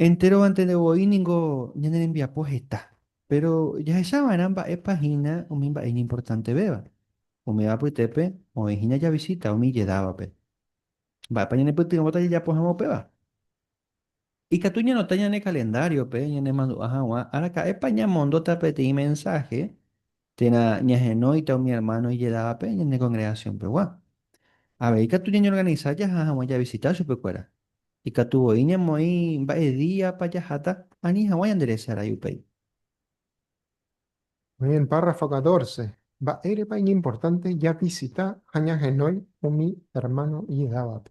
Enterovante nde voi ningo ñane rembiapo heta, péro jahecha va'erã mba'épa hína umi mba'e iñimportantevéva. Umíva apytépe oĩ hína javisita umi ijedávape. Mba'épa ñanepytyvõta jajapo hag̃ua upéva? Ikatu ñanota ñane kalendáriope ñanemandu'a hag̃ua araka'épa ñamondóta peteĩ mensáhe térã ñahenóita umi ermáno ijedávape ñane kongregasionpegua. Avei katu ñañeorganisa jaha hag̃ua javisita chupekuéra. Ikatu voi ñamoĩ mba'e díapa jaháta ani hag̃ua ñanderese arai upéi. Umi párrafo katórse, Mba'érepa iñimportánte javisita ha ñahenói umi ermáno ijedávape?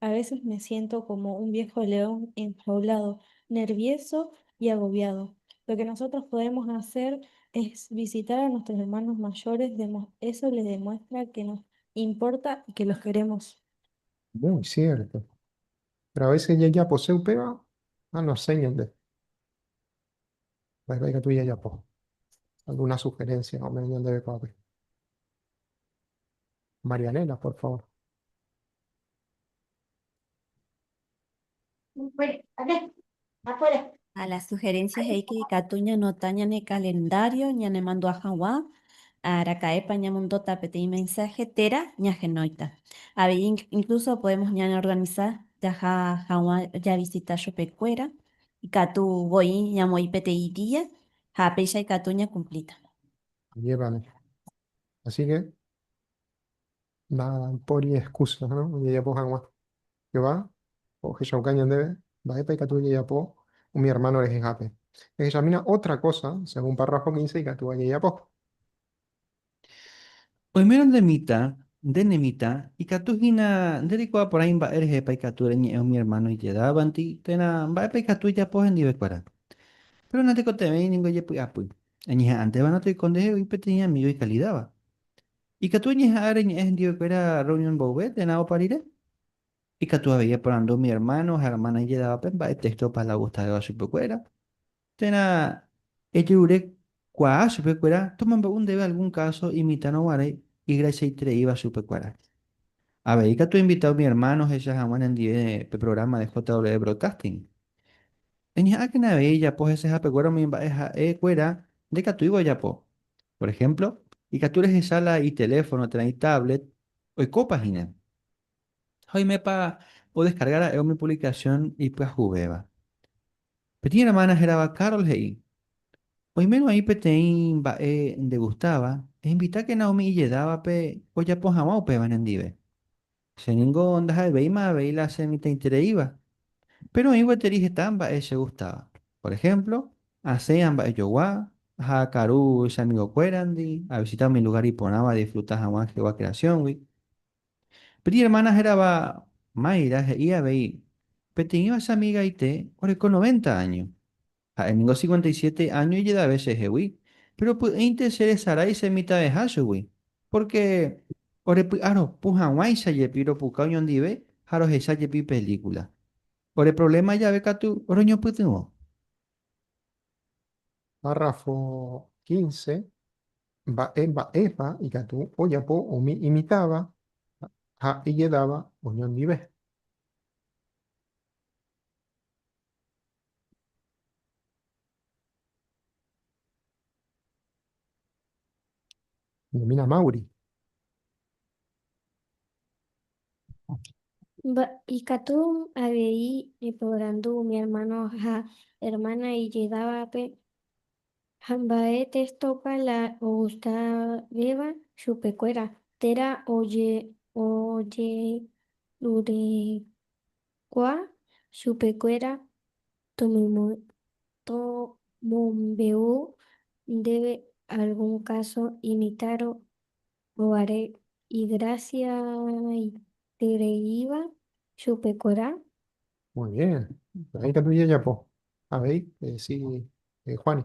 A veces me siento como un viejo león enjaulado, nervioso y agobiado. Lo que nosotros podemos hacer es visitar a nuestros hermanos mayores, eso les demuestra que nos importa y que los queremos. Muy cierto. Pero a veces yajaposéi upéva anosẽ ñande. Va'ekue ikatu jajapo. Alguna sugerencia ome'ẽ ñandéve kuápe. Marianela, por favor. Ha la sugerencia he'íke ikatu ñanota ñane calendario ñanemandu'a hag̃ua araka'épa ñamondóta peteĩ mensaje térã ñahenóita. Avei incluso podemos ñaneorganiza jaha hag̃ua javisita chupekuéra ikatu voi ñamoĩ peteĩ día ha péicha ikatu ñacumplíta. Ajépa niko. Así que. Mba'épaipori excusa ojejapo hag̃ua Jehová ohechauka ñandéve? Mba'épa ikatu ojejapo umi ermáno rehehápe? Ehechamína ótra kósa según párrafo quince ikatúva jajapo. Oimérõ nde mitã, nde ne mitã, ikatu hína nde reikuaa porãi mba'e rehepa ikatu reñe'ẽ umi ermáno ijedávanti térã mba'épa ikatu ejapo hendivekuéra. Péro natekotevẽi ningo ejepy'apy. Eñeha'ãntéva'erã toiko ndehe oĩ peteĩ amígo ikalidáva. Ikatu eñeha'ã reñe'ẽ hendivekuéra rreunión mboyve térã opa rire. Ikatu avei eporandu umi ermáno ha ermána ijedávape mba'e téxto opa la ogustavéva chupekuéra. Térã ejerure kuaa chupekuéra tomombe'u ndéve algún káso imitãrõ guare igrachiaitereíva chupe kuéra. Avei katu ainvita umi ermáno ohecha hag̃ua nendive pe prográma de JW Broadcasting. Eñeha'ãkena avei ejapo hesehapeguára umi mba'e ha'e kuéra ndekatúiva ojapo, Por ehémplo, ikatu rehecha la iteléfono térã itáblet oikópa hína. Ha oimépa odeskarga ra'e umi puvlikasión ipyahuvéva. Peteĩ ermána hérava Carol he'i, Oimérõ aĩ peteĩ mba'e ndegustáva, ehinvitákena umi ijedávape ojapo hag̃ua upéva nendive. Che ningo ndaha'evéima avei la chemitãitereíva, péro oĩ gueteri heta mba'e chegustáva. Por ehémplo, asẽ amba'ejogua, aha karu che amigokuérandi, avisita umi lugár iporãva adisfruta hag̃ua Jehová kreasióngui. Peteĩ ermána hérava Mayra he'i avei, Peteĩva che amigaite oreko noventa áño. Ha'e ningo cincuenta y siete áño ijedave chehegui, péro py'ỹinte cheresarái che mitãveha chugui, pórke orepy'aropu hag̃uáicha jepi ropuka oñondive ha rohecha jepi pelíkula. Ore provléma jave katu roñopytyvõ. Párrafo quince. Mba'e mba'épa ikatu ojapo umi imitãva ha ijedáva oñondive. Nomína Mauri. Ikatu avei eporandu umi ermáno ha ermána ijedávape ha mba'e testópa la ogustavéva chupekuéra térã ojeruréva. Kua chupekuéra tomombe'u ndéve algún káso imitárõ guare igrasiaitereíva chupekuéra? Muy bien. Mba'éikatu jajapo? Avei, edecí Juani.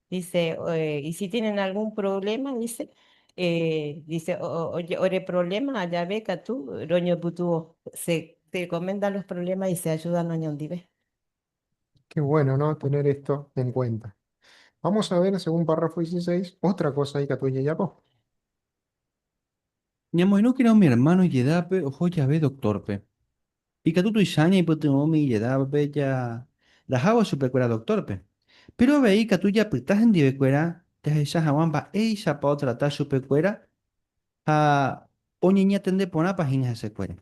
Dice, y si tienen algún problema, dice, eh, dice, ore problema ajave katu roñopytuvo. Se, se comenta los problemas y se ayuda noñondive. Qué bueno, ¿no? Tener esto en cuenta. Vamos a ver, según párrafo 16, otra cosa y katu yayapo. Ñamoirũkena umi hermano ijedápe oho jave doctórpe. Ikatu tuicha ñaipytyvõ umi ijedávape jarahávo chupekuéra doktórpe. Péro avei ikatu japyta hendivekuéra jahecha hag̃ua mba'éichapa otrata chupekuéra ha oñeñatende porãpa hína hesekuéra.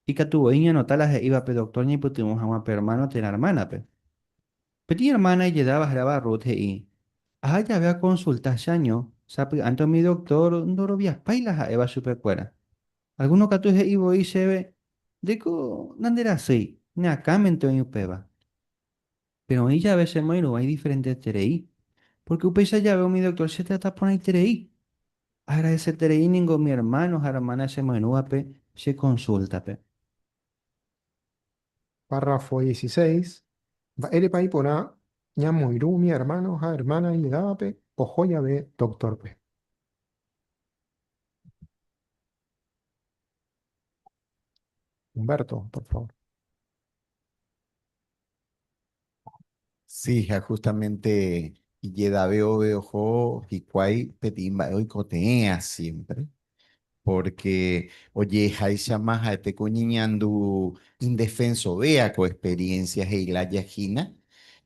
Ikatu voi ñanota la he'íva pe doktór ñaipytyvõ hag̃ua pe ermáno térã ermánape. Peteĩ ermána ijedáva hérava Ruth he'i, Aha jave akonsulta che año, sapy'ánte umi doktór ndoroviapái la ha'éva chupekuéra. Algúno katu he'i voi chéve, Ndéiko nanderasýi, ne akãmente oĩ upéva. Péro oĩ jave che moĩrũva idiferenteterei, pórke upéicha jave umi doktór chetrata porãiterei. Agradeseterei ningo umi ermáno ha ermána che moĩrũvape che konsúltape. Párrafo dieciséis. Mba'érepa iporã ñamoirũ umi ermáno ha ermána imedávape oho jave doktórpe? Humberto, por favor. Sí, ya justamente Yedaveo Beojo Hikuai Petimba hoy cotea siempre, porque oye, Haisha Maja, este coñiñandu indefenso, vea con experiencia, Heila Yajina,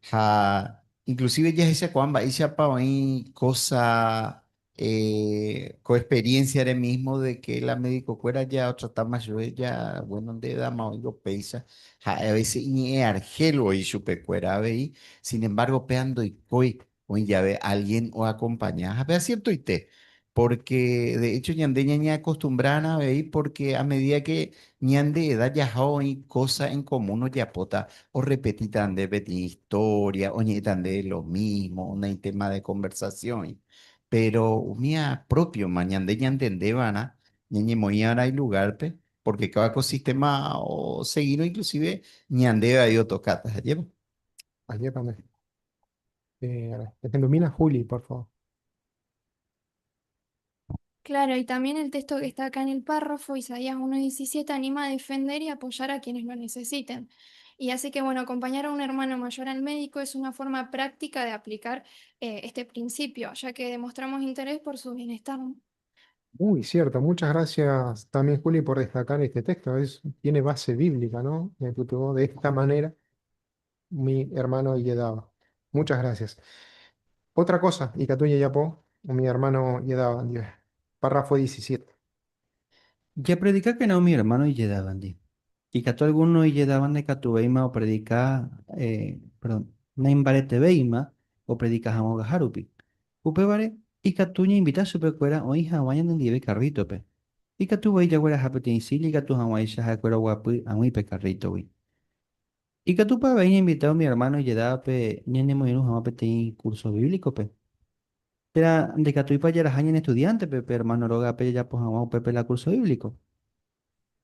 ja, inclusive ya esa cuamba, Isha Paoin, cosa Ko experiencia-re mismo de que la médico-kuéra jaatrata más lluve ja, bueno, nde edad-ma oĩngo upéicha, ha'e a veces iñe'ẽ argel voi chupekuéra avei, sin embargo, péva ndoikói oĩ jave alguien oacompaña. Ha péva ciertoite, porque de hecho ñande ñañeacostumbrárã avei, porque a medida que Ñande eda jaha oĩ kósa en komún ojapóta, orrepetíta nde peteĩ istória, oñe'ẽta nde lo mísmo, ona itéma de konversasión'i. Péro umía própioma ñande ñantende va'erã ñañemoĩ va'erã ilugárpe, pórke káda ko sistéma osegírõ inklusíve ñandéve vai otokáta. Ajépa? Ajépa nde. Ehendu mína Juli, por favór. Claro, y también el texto que está acá en el párrafo, Isaías 1.17, anima a defender y apoyar a quienes lo necesiten. Y así que, bueno, acompañar a un hermano mayor al médico es una forma práctica de aplicar eh, este principio, ya que demostramos interés por su bienestar. Muy cierto, muchas gracias también Juli por destacar este texto, es, tiene base bíblica, ¿no? De esta manera Umi hermano ijedáva. Muchas gracias. Otra cosa ikatu jajapo umi hermano ijedáva ndive. Párrafo diecisiete. Japredikakena umi hermano ijedávandi. Ikatu alguno ijedáva ndaikatuvéima opredika, perdón, naimbaretevéima opredika hag̃uágahárupi. Upévare, ikatu ñainvita chupekuéra oĩ hag̃ua ñanendive karrítope. Ikatu voi jagueraha peteĩ silla ikatu hag̃uáicha ha'ekuéra oguapy ag̃ui pe karrítogui. Ikatúpa avei ñainvita umi ermáno ijedápe ñanemoirũ hag̃ua peteĩ kúrso bíblikope? Térã ndaikatúipa jaraha ñane estudiántepe pe ermáno rógape jajapo hag̃ua upépe la kúrso bíbliko?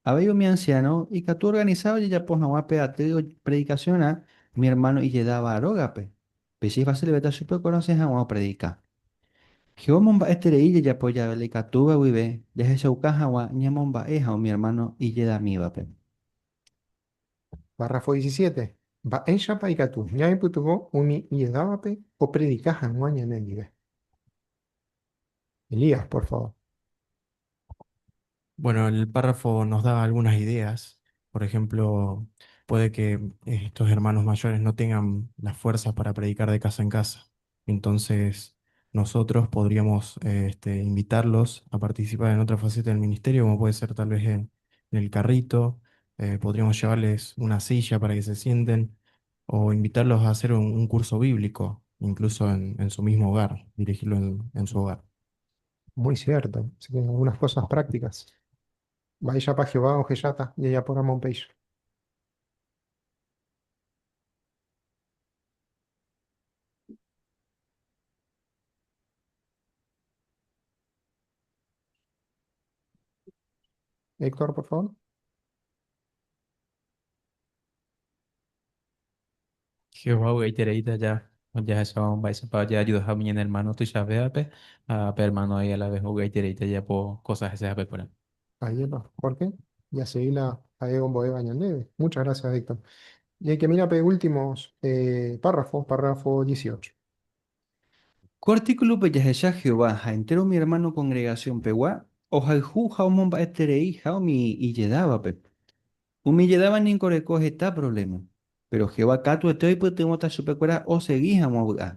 Avei umi ansiáno ikatu organisa ojejapo hag̃ua pe aty opredikasiona umi ermáno ijedáva rógape, pe che ifasilvéta chupe okonose hag̃ua opredika. Jehová omomba'eterei jajapo jave la ikatúva guive jahechauka hag̃ua ñamomba'e ha umi ermáno ijedamívape. Párrafo disisiete. Mba'éichapa ikatu ñaipytyvõ umi ijedávape opredika hag̃ua ñanendive? Elías, por favor. Bueno, el párrafo nos da algunas ideas. Por ejemplo, puede que estos hermanos mayores no tengan las fuerzas para predicar de casa en casa. Entonces, nosotros podríamos este, invitarlos a participar en otra faceta del ministerio, como puede ser tal vez en, el carrito, eh, podríamos llevarles una silla para que se sienten o invitarlos a hacer un, curso bíblico, incluso en, su mismo hogar, dirigirlo en, su hogar. Muy cierto, así que algunas cosas prácticas. Vaya para Jehová o Jeyata, y ella por Amon Héctor, por favor. Jehová u'aitereíta aja ojahechauka mba'éichapa ojeajudaha umi ñane ermáno tuichavévape ha pe ermáno ári a la ves u'aitereíta ojeapo kósa hese hapekuéra. Ajépa, Jorge, ya sei la ha'e ombo'éva ñandéve. Muchas gracias, Héctor. Jeike, mira pe últimos eh, párrafos, párrafo 18. Ko artíkulope jahecha Jehová ha entéro umi ermáno kongregasionpegua ohayhu ha omomba'etereiha umi ijedávape. Umi ijedáva ningo oreko heta provléma, péro Jehová katuete oipytyvõta chupekuéra osegi hag̃ua vy'a.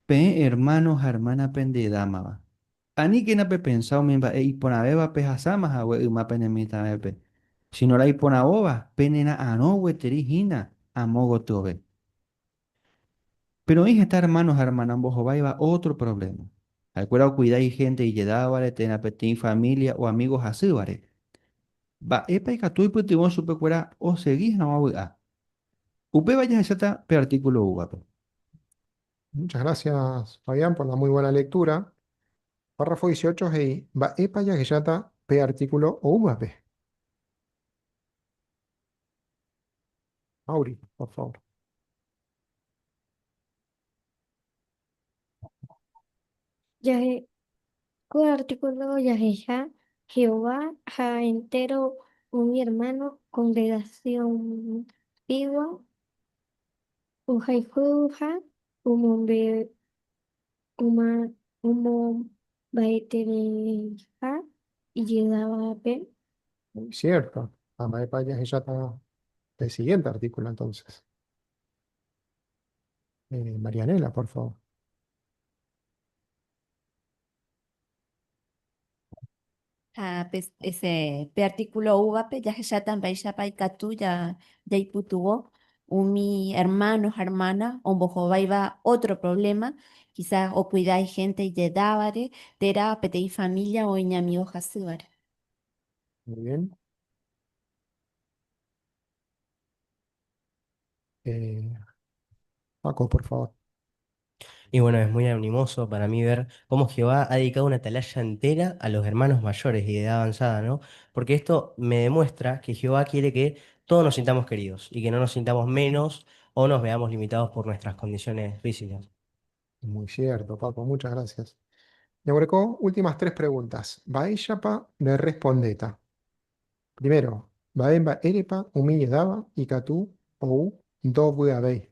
Peẽ ermáno ha ermána pendedámava, Aníkena pepensa umi mba'e iporãvéva pehasáma hague yma pene mitãvépe, síno la iporãvóva penera'arõ gueteri hína amo gotyove. Péro oĩ heta ermáno ha ermána ombohováiva ótro provléma. Ha'ekuéra okuida ihénte ijedávare térã peteĩ família o amígo hasývare. Mba'épa ikatu oipytyvõ chupekuéra osegi hag̃ua vy'a? Upéva jahecháta pe artíkulo úvape. Muchas gracias, Fabián, por la muy buena lectura. Párrafo 18 he'i, mba'épa jahecháta pe artíkulo oúvape? Mauri, por favor. Jahe, ko artíkulo jahecha Jehová ha entéro umi ermáno kongregasiónpigua. Ohayhúva omombaetereiha ijedavápe. Cierto. Ha mba'épa jahecháta pe siguiente artículo entonces? Eh, Marianela, por favor. Ha pe, ese, pe artículo úvape jahecháta mba'éichapa ikatu ja, jaipytuvo umi hermano ha hermana ombohováiva ótro provléma, kisa okuida ihénte ijedávare térã peteĩ família oĩ ñamigo hasývare. Muy bien. Eh, Paco, por favor. Y bueno, es muy animoso para mí ver cómo Jehová ha dedicado una atalaya entera a los hermanos mayores y de edad avanzada, ¿no? Porque esto me demuestra que Jehová quiere que todos nos sintamos queridos y que no nos sintamos menos o nos veamos limitados por nuestras condiciones físicas. Muy cierto, Paco, muchas gracias. Neureco, últimas tres preguntas. Baishapa de respondeta. Primero, Baemba Erepa, Humille Daba, Ikatu, Ou, Dobu Abei.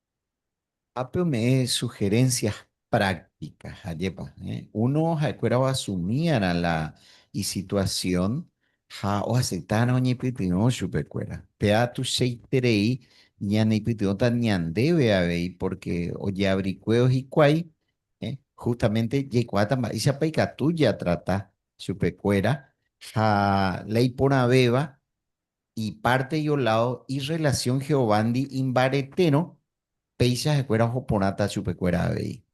Ápe ome'ẽ sugerencias prácticas jajépa, uno ha'ekuéra oasumíarã la isituasión ha oaseitárã oñepytyvõ chupekuéra. Péa tuichaiterei ñaneipytyvõta ñandéve avei pórke ojeabrikuévo hikuái, justamente jaikuaáta mba'éichapa ikatu jatrata chupekuéra ha la iporãvéva Ipárte ioládo irrelasión Jehovándi imbaretérõ, péicha ha'ekuéra oho porãta chupekuéra avei.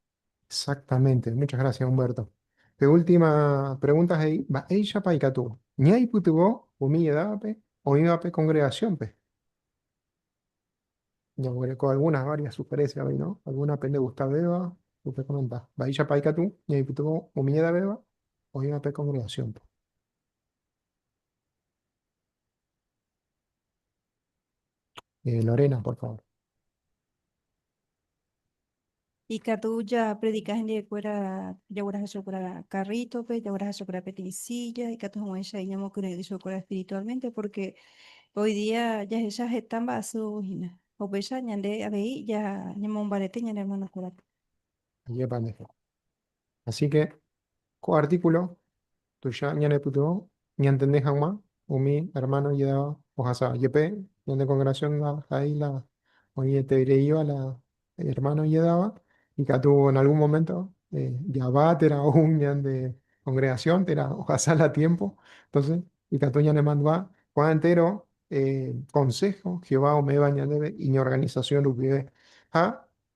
Exactamente. Muchas gracias, Humberto. Pe última pregunta he'i, Mba'éichapa ikatu ñaipytyvõ umi edávape oĩva pe kongregasiónpe? Ñaguereko algúnas várias sugerésia avei, no? Algúna pendegustavéva, pekomenta. Mba'éichapa ikatu ñaipytyvõ umi edavéva oĩva pe kongregasiónpe? Eh, Lorena, por favor. Ikatu japredika hendivekuéra jagueraha chupekuéra karrítope, jagueraha chupekuéra peteĩ sílla, ikatu hag̃uáicha ñamokyre'ỹ chupekuéra espiritualmente, pórke hoi día jahecha heta mba'asýhina. Upéicha ñande avei ñamombarete ñane ermanokuérape. Ajépa nde. Asíke ko artíkulo tuicha ñanepytyvõ ñantende hag̃ua umi ermáno ijedáva ohasa jepe ñane kongresiónda ha'e la oĩetereiva la ermáno ijedáva, ikatu en algún moménto java térã ou ñande kongregasión térã ohasa la tiémpo. Entónse ikatu ñanemandu'a ko'ã entéro konsého Jehová ome'ẽva ñandéve iñorganisasión rupive. Ha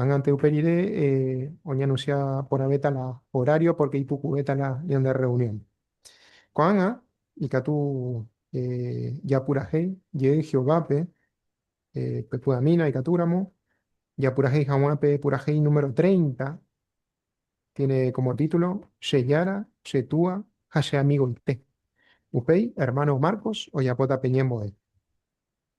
Ág̃ante upe rire oñanusia porãvéta la horário pórke ipukuvéta la ñande rreunión. Ko'ág̃a ikatu japurahéi jey Jehovápe pe py'amína ikatúramo japurahéi hag̃ua pe purahéi número treinta, tiene kómo título, Che Jára, che Túa ha che Amigoite. Upéi ermáno Marcos ojapóta pe ñembo'e.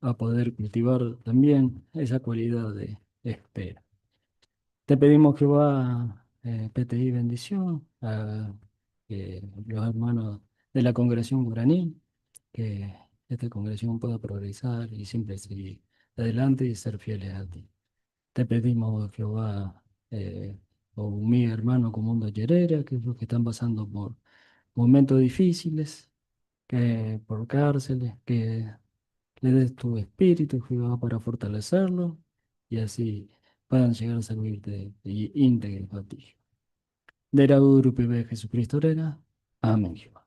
a poder cultivar también esa cualidad de espera. Te pedimos, Jehová, eh, peteí bendición a eh, los hermanos de la congregación guaraní, que esta congregación pueda progresar y siempre seguir adelante y ser fieles a ti. Te pedimos, Jehová, eh, o mi hermano Comundo Yerera, que es los que están pasando por momentos difíciles, que por cárceles, que le des tu espíritu, Jehová, para fortalecerlo y así puedan llegar a servirte y íntegro a ti. De la Urupe de Jesucristo, Rega. Amén, Jehová.